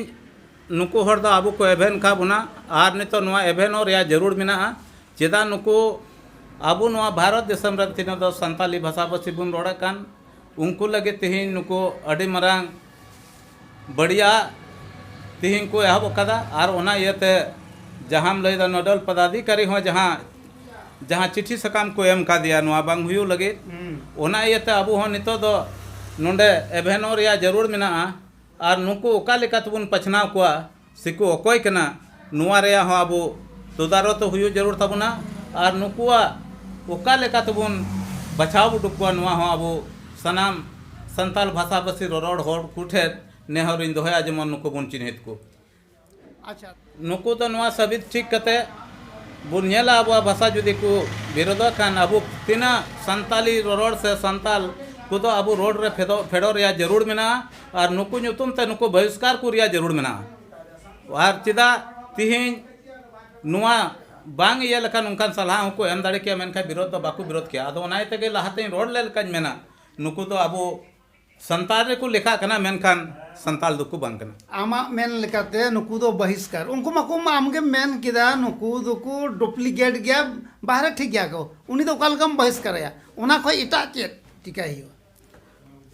S1: ᱱᱩᱠᱩ ᱦᱚᱲ ᱫᱚ ᱟᱵᱚ ᱠᱚ ᱮᱵᱷᱮᱱ ᱟᱠᱟᱫ ᱵᱚᱱᱟ ᱟᱨ ᱱᱤᱛᱚᱜ ᱱᱚᱣᱟ ᱮᱵᱷᱮᱱᱚᱜ ᱨᱮᱭᱟᱜ ᱡᱟᱹᱨᱩᱲ ᱢᱮᱱᱟᱜᱼᱟ ᱪᱮᱫᱟᱜ ᱱᱩᱠᱩ ᱟᱵᱚ ᱱᱚᱣᱟ ᱵᱷᱟᱨᱚᱛ ᱫᱤᱥᱚᱢ ᱨᱮ ᱛᱤᱱᱟᱹᱜ ᱫᱚ ᱥᱟᱱᱛᱟᱞᱤ ᱵᱷᱟᱥᱟ ᱵᱷᱟᱹᱥᱤ ᱵᱚᱱ ᱨᱚᱲᱮᱫ ᱠᱟᱱ ᱩᱱᱠᱩ ᱞᱟᱹᱜᱤᱫ ᱛᱮᱦᱮᱧ ᱱᱩᱠᱩ ᱟᱹᱰᱤ ᱢᱟᱨᱟᱝ ᱵᱟᱹᱲᱤᱡᱟᱜ ᱛᱤᱦᱤᱧ ᱠᱚ ᱮᱦᱚᱵ ᱟᱠᱟᱫᱟ ᱟᱨ ᱚᱱᱟ ᱤᱭᱟᱹᱛᱮ ᱡᱟᱦᱟᱸᱢ ᱞᱟᱹᱭᱫᱟ ᱱᱚᱰᱟᱞ ᱯᱚᱫᱟᱫᱷᱤᱠᱟᱨᱤ ᱦᱚᱸ ᱡᱟᱦᱟᱸ ᱡᱟᱦᱟᱸ ᱪᱤᱴᱷᱤ ᱥᱟᱠᱟᱢ ᱠᱚ ᱮᱢ ᱠᱟᱫᱮᱭᱟ ᱱᱚᱣᱟ ᱵᱟᱝ ᱦᱩᱭᱩᱜ ᱞᱟᱹᱜᱤᱫ ᱚᱱᱟ ᱤᱭᱟᱹᱛᱮ ᱟᱵᱚ ᱦᱚᱸ ᱱᱤᱛᱚᱜ ᱫᱚ ᱱᱚᱰᱮ ᱮᱵᱷᱮᱱᱚᱜ ᱨᱮᱭᱟᱜ ᱡᱟᱹᱨᱩᱲ ᱢᱮᱱᱟᱜᱼᱟ ᱟᱨ ᱱᱩᱠᱩ ᱚᱠᱟ ᱞᱮᱠᱟ ᱛᱮᱵᱚᱱ ᱵᱟᱪᱷᱱᱟᱣ ᱠᱚᱣᱟ ᱥᱮᱠᱚ ᱚᱠᱚᱭ ᱠᱟᱱᱟ ᱱᱚᱣᱟ ᱨᱮᱭᱟᱜ ᱦᱚᱸ ᱟᱵᱚ ᱛᱚᱫᱟᱨᱚᱛ ᱦᱩᱭᱩᱜ ᱡᱟᱹᱨᱩᱲ ᱛᱟᱵᱚᱱᱟ ᱟᱨ ᱱᱩᱠᱩᱣᱟᱜ ᱚᱠᱟ ᱞᱮᱠᱟ ᱛᱮᱵᱚᱱ ᱵᱟᱪᱷᱟᱣ ᱩᱰᱩᱠ ᱠᱚᱣᱟ ᱱᱚᱣᱟ ᱦᱚᱸ ᱟᱵᱚ ᱥᱟᱱᱟᱢ ᱥᱟᱱᱛᱟᱲ ᱵᱷᱟᱥᱟ ᱵᱷᱟᱹᱥᱤ ᱨᱚᱨᱚᱲ ᱦᱚᱲ ᱠᱚᱴᱷᱮᱱ ᱱᱮᱦᱚᱨ ᱤᱧ ᱫᱚᱦᱚᱭᱟ ᱡᱮᱢᱚᱱ ᱱᱩᱠᱩ ᱵᱚᱱ ᱪᱤᱱᱦᱟᱹᱛ ᱠᱚ ᱟᱪᱪᱷᱟ ᱱᱩᱠᱩ ᱫᱚ ᱱᱚᱣᱟ ᱥᱟᱹᱵᱤᱛ ᱴᱷᱤᱠ ᱠᱟᱛᱮ ᱵᱚᱱ ᱧᱮᱞᱟ ᱟᱵᱚᱣᱟᱜ ᱵᱷᱟᱥᱟ ᱡᱩᱫᱤ ᱠᱚ ᱵᱤᱨᱳᱫᱷᱚᱜ ᱠᱷᱟᱱ ᱟᱵᱚ ᱛᱤᱱᱟᱹᱜ ᱥᱟᱱᱛᱟᱲᱤ ᱨᱚᱨᱚᱲ ᱥᱮ ᱥᱟᱱᱛᱟᱲ ᱠᱚᱫᱚ ᱟᱵᱚ ᱨᱚᱲ ᱨᱮ ᱯᱷᱮᱰᱚᱜ ᱯᱷᱮᱰᱚᱜ ᱨᱮᱭᱟᱜ ᱡᱟᱹᱨᱩᱲ ᱢᱮᱱᱟᱜᱼᱟ ᱟᱨ ᱱᱩᱠᱩ ᱧᱩᱛᱩᱢ ᱛᱮ ᱱᱩᱠᱩ ᱵᱚᱦᱤᱥᱠᱟᱨ ᱠᱚ ᱨᱮᱭᱟᱜ ᱡᱟᱹᱨᱩᱲ ᱢᱮᱱᱟᱜᱼᱟ ᱟᱨ ᱪᱮᱫᱟᱜ ᱛᱮᱦᱮᱧ ᱱᱚᱣᱟ ᱵᱟᱝ ᱤᱭᱟᱹ ᱞᱮᱠᱷᱟᱱ ᱚᱱᱠᱟᱱ ᱥᱟᱞᱦᱟ ᱦᱚᱸᱠᱚ ᱮᱢ ᱫᱟᱲᱮ ᱠᱮᱭᱟ ᱢᱮᱱᱠᱷᱟᱱ ᱵᱤᱨᱳᱫᱷ ᱫᱚ ᱵᱟᱠᱚ ᱵᱤᱨᱳᱫᱷ ᱠᱮᱭᱟ ᱟᱫᱚ ᱚᱱᱟ ᱤᱭᱟᱹᱛᱮ ᱞᱟᱦᱟ ᱛᱮᱧ ᱨᱚᱲ ᱞᱮᱫ ᱞᱮᱠᱟᱧ ᱢᱮᱱᱟ ᱱᱩᱠᱩ ᱫᱚ ᱟᱵᱚ ᱥᱟᱱᱛᱟᱲ ᱨᱮᱠᱚ ᱞᱮᱠᱷᱟᱜ ᱠᱟᱱᱟ ᱢᱮᱱᱠᱷᱟᱱ ᱥᱟᱱᱛᱟᱲ ᱫᱚᱠᱚ ᱵᱟᱝ ᱠᱟᱱᱟ ᱟᱢᱟᱜ ᱢᱮᱱ ᱞᱮᱠᱟᱛᱮ ᱱᱩᱠᱩ ᱫᱚ ᱵᱚᱦᱤᱥᱠᱟᱨ ᱩᱱᱠᱩ ᱢᱟᱠᱚ ᱟᱢᱜᱮᱢ ᱢᱮᱱ ᱠᱮᱫᱟ ᱱᱩᱠᱩ ᱫᱚᱠᱚ ᱰᱩᱯᱞᱤᱠᱮᱴ ᱜᱮᱭᱟ ᱵᱟᱦᱨᱮ ᱴᱷᱤᱠ ᱜᱮᱭᱟ ᱠᱚ ᱩᱱᱤ ᱫᱚ ᱚᱠᱟ ᱞᱮᱠᱟᱢ ᱵᱚᱦᱤᱥᱠᱟᱨᱮᱭᱟ ᱚᱱᱟ ᱠᱷᱚᱱ ᱮᱴᱟᱜ ᱪᱮᱫ ᱪᱤᱠᱟᱹᱭ ᱦᱩᱭᱩᱜᱼᱟ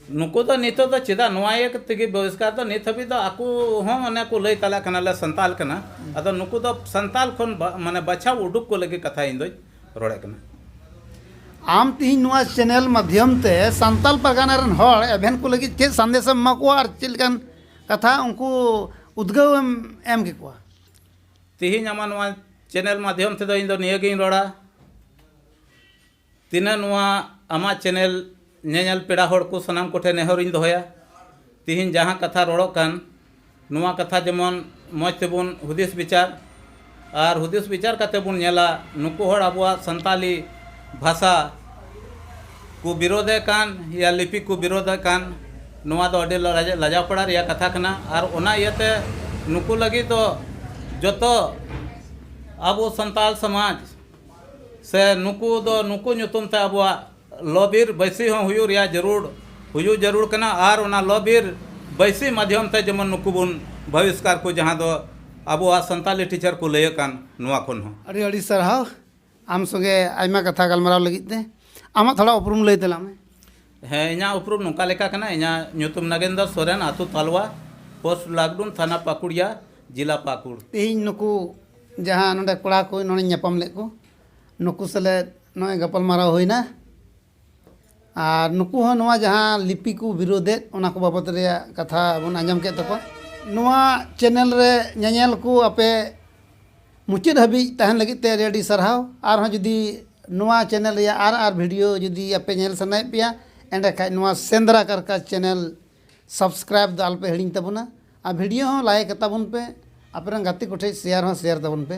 S1: ᱱᱩᱠᱩ ᱫᱚ ᱱᱤᱛᱚᱜ ᱫᱚ ᱪᱮᱫᱟᱜ ᱱᱚᱣᱟ ᱤᱭᱟᱹ ᱛᱮᱜᱮ ᱵᱚᱦᱤᱥᱠᱟᱨ ᱫᱚ ᱱᱤᱛ ᱦᱟᱹᱵᱤᱡ ᱫᱚ ᱟᱠᱚ ᱦᱚᱸ ᱚᱱᱮ ᱠᱚ ᱞᱟᱹᱭ ᱛᱟᱞᱮ ᱠᱟᱱᱟ ᱞᱮ ᱥᱟᱱᱛᱟᱲ ᱠᱟᱱᱟ ᱟᱫᱚ ᱱᱩᱠᱩ ᱫᱚ ᱥᱟᱱᱛᱟᱲ ᱠᱷᱚᱱ ᱢᱟᱱᱮ ᱵᱟᱪᱷᱟᱣ ᱩᱰᱩᱠ ᱠᱚ ᱞᱟᱹᱜᱤᱫ ᱠᱟᱛᱷᱟ ᱤᱧ ᱫᱚᱧ ᱨᱚᱲᱮᱫ ᱠᱟᱱᱟ ᱟᱢ ᱛᱮᱦᱮᱧ ᱱᱚᱣᱟ ᱪᱮᱱᱮᱞ ᱢᱟᱫᱽᱫᱷᱚᱢ ᱛᱮ ᱥᱟᱱᱛᱟᱲ ᱯᱟᱨᱜᱟᱱᱟ ᱨᱮᱱ ᱦᱚᱲ ᱮᱵᱷᱮᱱ ᱠᱚ ᱞᱟᱹᱜᱤᱫ ᱪᱮᱫ ᱥᱟᱸᱫᱮᱥ ᱮᱢ ᱮᱢᱟ ᱠᱚᱣᱟ ᱟᱨ ᱪᱮᱫ ᱞᱮᱠᱟᱱ ᱠᱟᱛᱷᱟ ᱩᱱᱠᱩ ᱩᱫᱽᱜᱟᱹᱣ ᱮᱢ ᱮᱢ ᱠᱮᱠᱚᱣᱟ ᱛᱮᱦᱮᱧ ᱟᱢᱟᱜ ᱱᱚᱣᱟ ᱪᱮᱱᱮᱞ ᱢᱟᱫᱽᱫᱷᱚᱢ ᱛᱮᱫᱚ ᱤᱧ ᱫᱚ ᱱᱤᱭᱟᱹ ᱜᱤᱧ ᱨᱚᱲᱟ ᱛᱤᱱᱟᱹᱜ ᱱᱚᱣᱟ ᱟᱢᱟᱜ ᱪᱮᱱᱮᱞ ᱧᱮᱧᱮᱞ ᱯᱮᱲᱟ ᱦᱚᱲ ᱠᱚ ᱥᱟᱱᱟᱢ ᱠᱚᱴᱷᱮᱱ ᱱᱮᱦᱚᱨ ᱤᱧ ᱫᱚᱦᱚᱭᱟ ᱛᱤᱦᱤᱧ ᱡᱟᱦᱟᱸ ᱠᱟᱛᱷᱟ ᱨᱚᱲᱚᱜ ᱠᱟᱱ ᱱᱚᱣᱟ ᱠᱟᱛᱷᱟ ᱡᱮᱢᱚᱱ ᱢᱚᱡᱽ ᱛᱮᱵᱚᱱ ᱦᱩᱫᱤᱥ ᱵᱤᱪᱟᱨ ᱟᱨ ᱦᱩᱫᱤᱥ ᱵᱤᱪᱟᱨ ᱠᱟᱛᱮᱫ ᱵᱚᱱ ᱧᱮᱞᱟ ᱱᱩᱠᱩ ᱦᱚᱲ ᱟᱵᱚᱣᱟᱜ ᱥᱟᱱᱛᱟᱲᱤ ᱵᱷᱟᱥᱟ ᱠᱚ ᱵᱤᱨᱳᱫᱷᱮᱫ ᱠᱟᱱ ᱤᱭᱟ ᱞᱤᱯᱤ ᱠᱚ ᱵᱤᱨᱳᱫᱷᱮᱫ ᱠᱟᱱ ᱱᱚᱣᱟ ᱫᱚ ᱟᱹᱰᱤ ᱞᱟᱡᱟᱣ ᱯᱟᱲᱟᱜ ᱨᱮᱭᱟᱜ ᱠᱟᱛᱷᱟ ᱠᱟᱱᱟ ᱟᱨ ᱚᱱᱟ ᱤᱭᱟᱹᱛᱮ ᱱᱩᱠᱩ ᱞᱟᱹᱜᱤᱫ ᱫᱚ ᱡᱚᱛᱚ ᱟᱵᱚ ᱥᱟᱱᱛᱟᱲ ᱥᱚᱢᱟᱡᱽ ᱥᱮ ᱱᱩᱠᱩ ᱫᱚ ᱱᱩᱠᱩ ᱧᱩᱛᱩᱢ ᱛᱮ ᱟᱵᱚᱣᱟᱜ ᱞᱚ ᱵᱤᱨ ᱵᱟᱹᱭᱥᱤ ᱦᱚᱸ ᱦᱩᱭᱩᱜ ᱨᱮᱭᱟᱜ ᱡᱟᱹᱨᱩᱲ ᱦᱩᱭᱩᱜ ᱡᱟᱹᱨᱩᱲ ᱠᱟᱱᱟ ᱟᱨ ᱚᱱᱟ ᱞᱚ ᱵᱤᱨ ᱵᱟᱹᱭᱥᱤ ᱢᱟᱫᱽᱫᱷᱚᱢ ᱛᱮ ᱡᱮᱢᱚᱱ ᱱᱩᱠᱩ ᱵᱚᱱ ᱵᱟᱹᱦᱤᱥᱠᱟᱨ ᱠᱚ ᱡᱟᱦᱟᱸ ᱫᱚ ᱟᱵᱚᱣᱟᱜ ᱥᱟᱱᱛᱟᱲᱤ ᱴᱤᱪᱟᱨ ᱠᱚ ᱞᱟᱹᱭᱟᱹᱜ ᱠᱟᱱ ᱱᱚᱣᱟ ᱠᱷᱚᱱ ᱦᱚᱸ ᱟᱹᱰᱤ ᱟᱹᱰᱤ ᱥᱟᱨᱦᱟᱣ ᱟᱢ ᱥᱚᱸᱜᱮ ᱟᱭᱢᱟ ᱠᱟᱛᱷᱟ ᱜᱟᱞᱢᱟᱨᱟᱣ ᱞᱟᱹᱜᱤᱫ ᱛᱮ ᱟᱢᱟᱜ ᱛᱷᱚᱲᱟ ᱩᱯᱨᱩᱢ ᱞᱟᱹᱭ ᱛᱟᱞᱟᱝ ᱢᱮ ᱦᱮᱸ ᱤᱧᱟᱹᱜ ᱩᱯᱨᱩᱢ ᱱᱚᱝᱠᱟ ᱞᱮᱠᱟ ᱠᱟᱱᱟ ᱤᱧᱟᱹᱜ ᱧᱩᱛᱩᱢ ᱱᱟᱜᱮᱱᱫᱚᱨ ᱥᱚᱨᱮᱱ ᱟᱛᱳ ᱛᱟᱞᱣᱟ ᱯᱳᱥᱴ ᱞᱟᱠᱰᱩᱢ ᱛᱷᱟᱱᱟ ᱯᱟᱹᱠᱩᱲᱤᱭᱟ ᱡᱮᱞᱟ ᱯᱟᱹᱠᱩᱲ ᱛᱮᱦᱮᱧ ᱱᱩᱠᱩ ᱡᱟᱦᱟᱸ ᱱᱚᱰᱮ ᱠᱚᱲᱟ ᱠᱚ ᱱᱚᱰᱮᱧ ᱧᱟᱯᱟᱢ ᱞᱮᱫ ᱠᱚ ᱱᱩᱠᱩ ᱥᱮᱞᱮᱫ ᱱᱚᱜᱼᱚᱭ ᱜᱟᱯᱟᱞ ᱢᱟᱨᱟᱣ ᱦᱩᱭᱱᱟ ᱟᱨ ᱱᱩᱠᱩ ᱦᱚᱸ ᱱᱚᱣᱟ ᱡᱟᱦᱟᱸ ᱞᱤᱯᱤ ᱠᱚ ᱵᱤᱨᱳᱫᱮᱫ ᱚᱱᱟ ᱠᱚ ᱵᱟᱵᱚᱫ ᱨᱮᱭᱟᱜ ᱠᱟᱛᱷᱟ ᱵᱚᱱ ᱟᱸᱡᱚᱢ ᱠᱮᱫ ᱛᱟᱠᱚᱣᱟ ᱱᱚᱣᱟ ᱪᱮᱱᱮᱞ ᱨᱮ ᱧᱮᱧᱮᱞ ᱠᱚ ᱟᱯᱮ ᱢᱩᱪᱟᱹᱫ ᱦᱟᱹᱵᱤᱡ ᱛᱟᱦᱮᱱ ᱞᱟᱹᱜᱤᱫ ᱛᱮ ᱟᱹᱰᱤ ᱟᱹᱰᱤ ᱥᱟᱨᱦᱟᱣ ᱟᱨᱦᱚᱸ ᱡᱩᱫᱤ ᱱᱚᱣᱟ ᱪᱮᱱᱮᱞ ᱨᱮᱭᱟᱜ ᱟᱨ ᱟᱨ ᱵᱷᱤᱰᱤᱭᱳ ᱡᱩᱫᱤ ᱟᱯᱮ ᱧᱮᱞ ᱥᱟᱱᱟᱭᱮᱫ ᱯᱮᱭᱟ ᱮᱸᱰᱮ ᱠᱷᱟᱱ ᱱᱚᱣᱟ ᱥᱮᱸᱫᱽᱨᱟ ᱠᱟᱨᱠᱟ ᱪᱮᱱᱮᱞ ᱥᱟᱵᱥᱠᱨᱟᱭᱤᱵᱽ ᱫᱚ ᱟᱞᱚᱯᱮ ᱦᱤᱲᱤᱧ ᱛᱟᱵᱚᱱᱟ ᱟᱨ ᱵᱷᱤᱰᱤᱭᱳ ᱦᱚᱸ ᱞᱟᱭᱤᱠ ᱟᱛᱟᱵᱚᱱ ᱯᱮ ᱟᱯᱮ ᱨᱮᱱ ᱜᱟᱛᱮ ᱠᱚᱴᱷᱮᱱ ᱥᱮᱭᱟᱨ ᱦᱚᱸ ᱥᱮᱭᱟᱨ ᱛᱟᱵᱚᱱ ᱯᱮ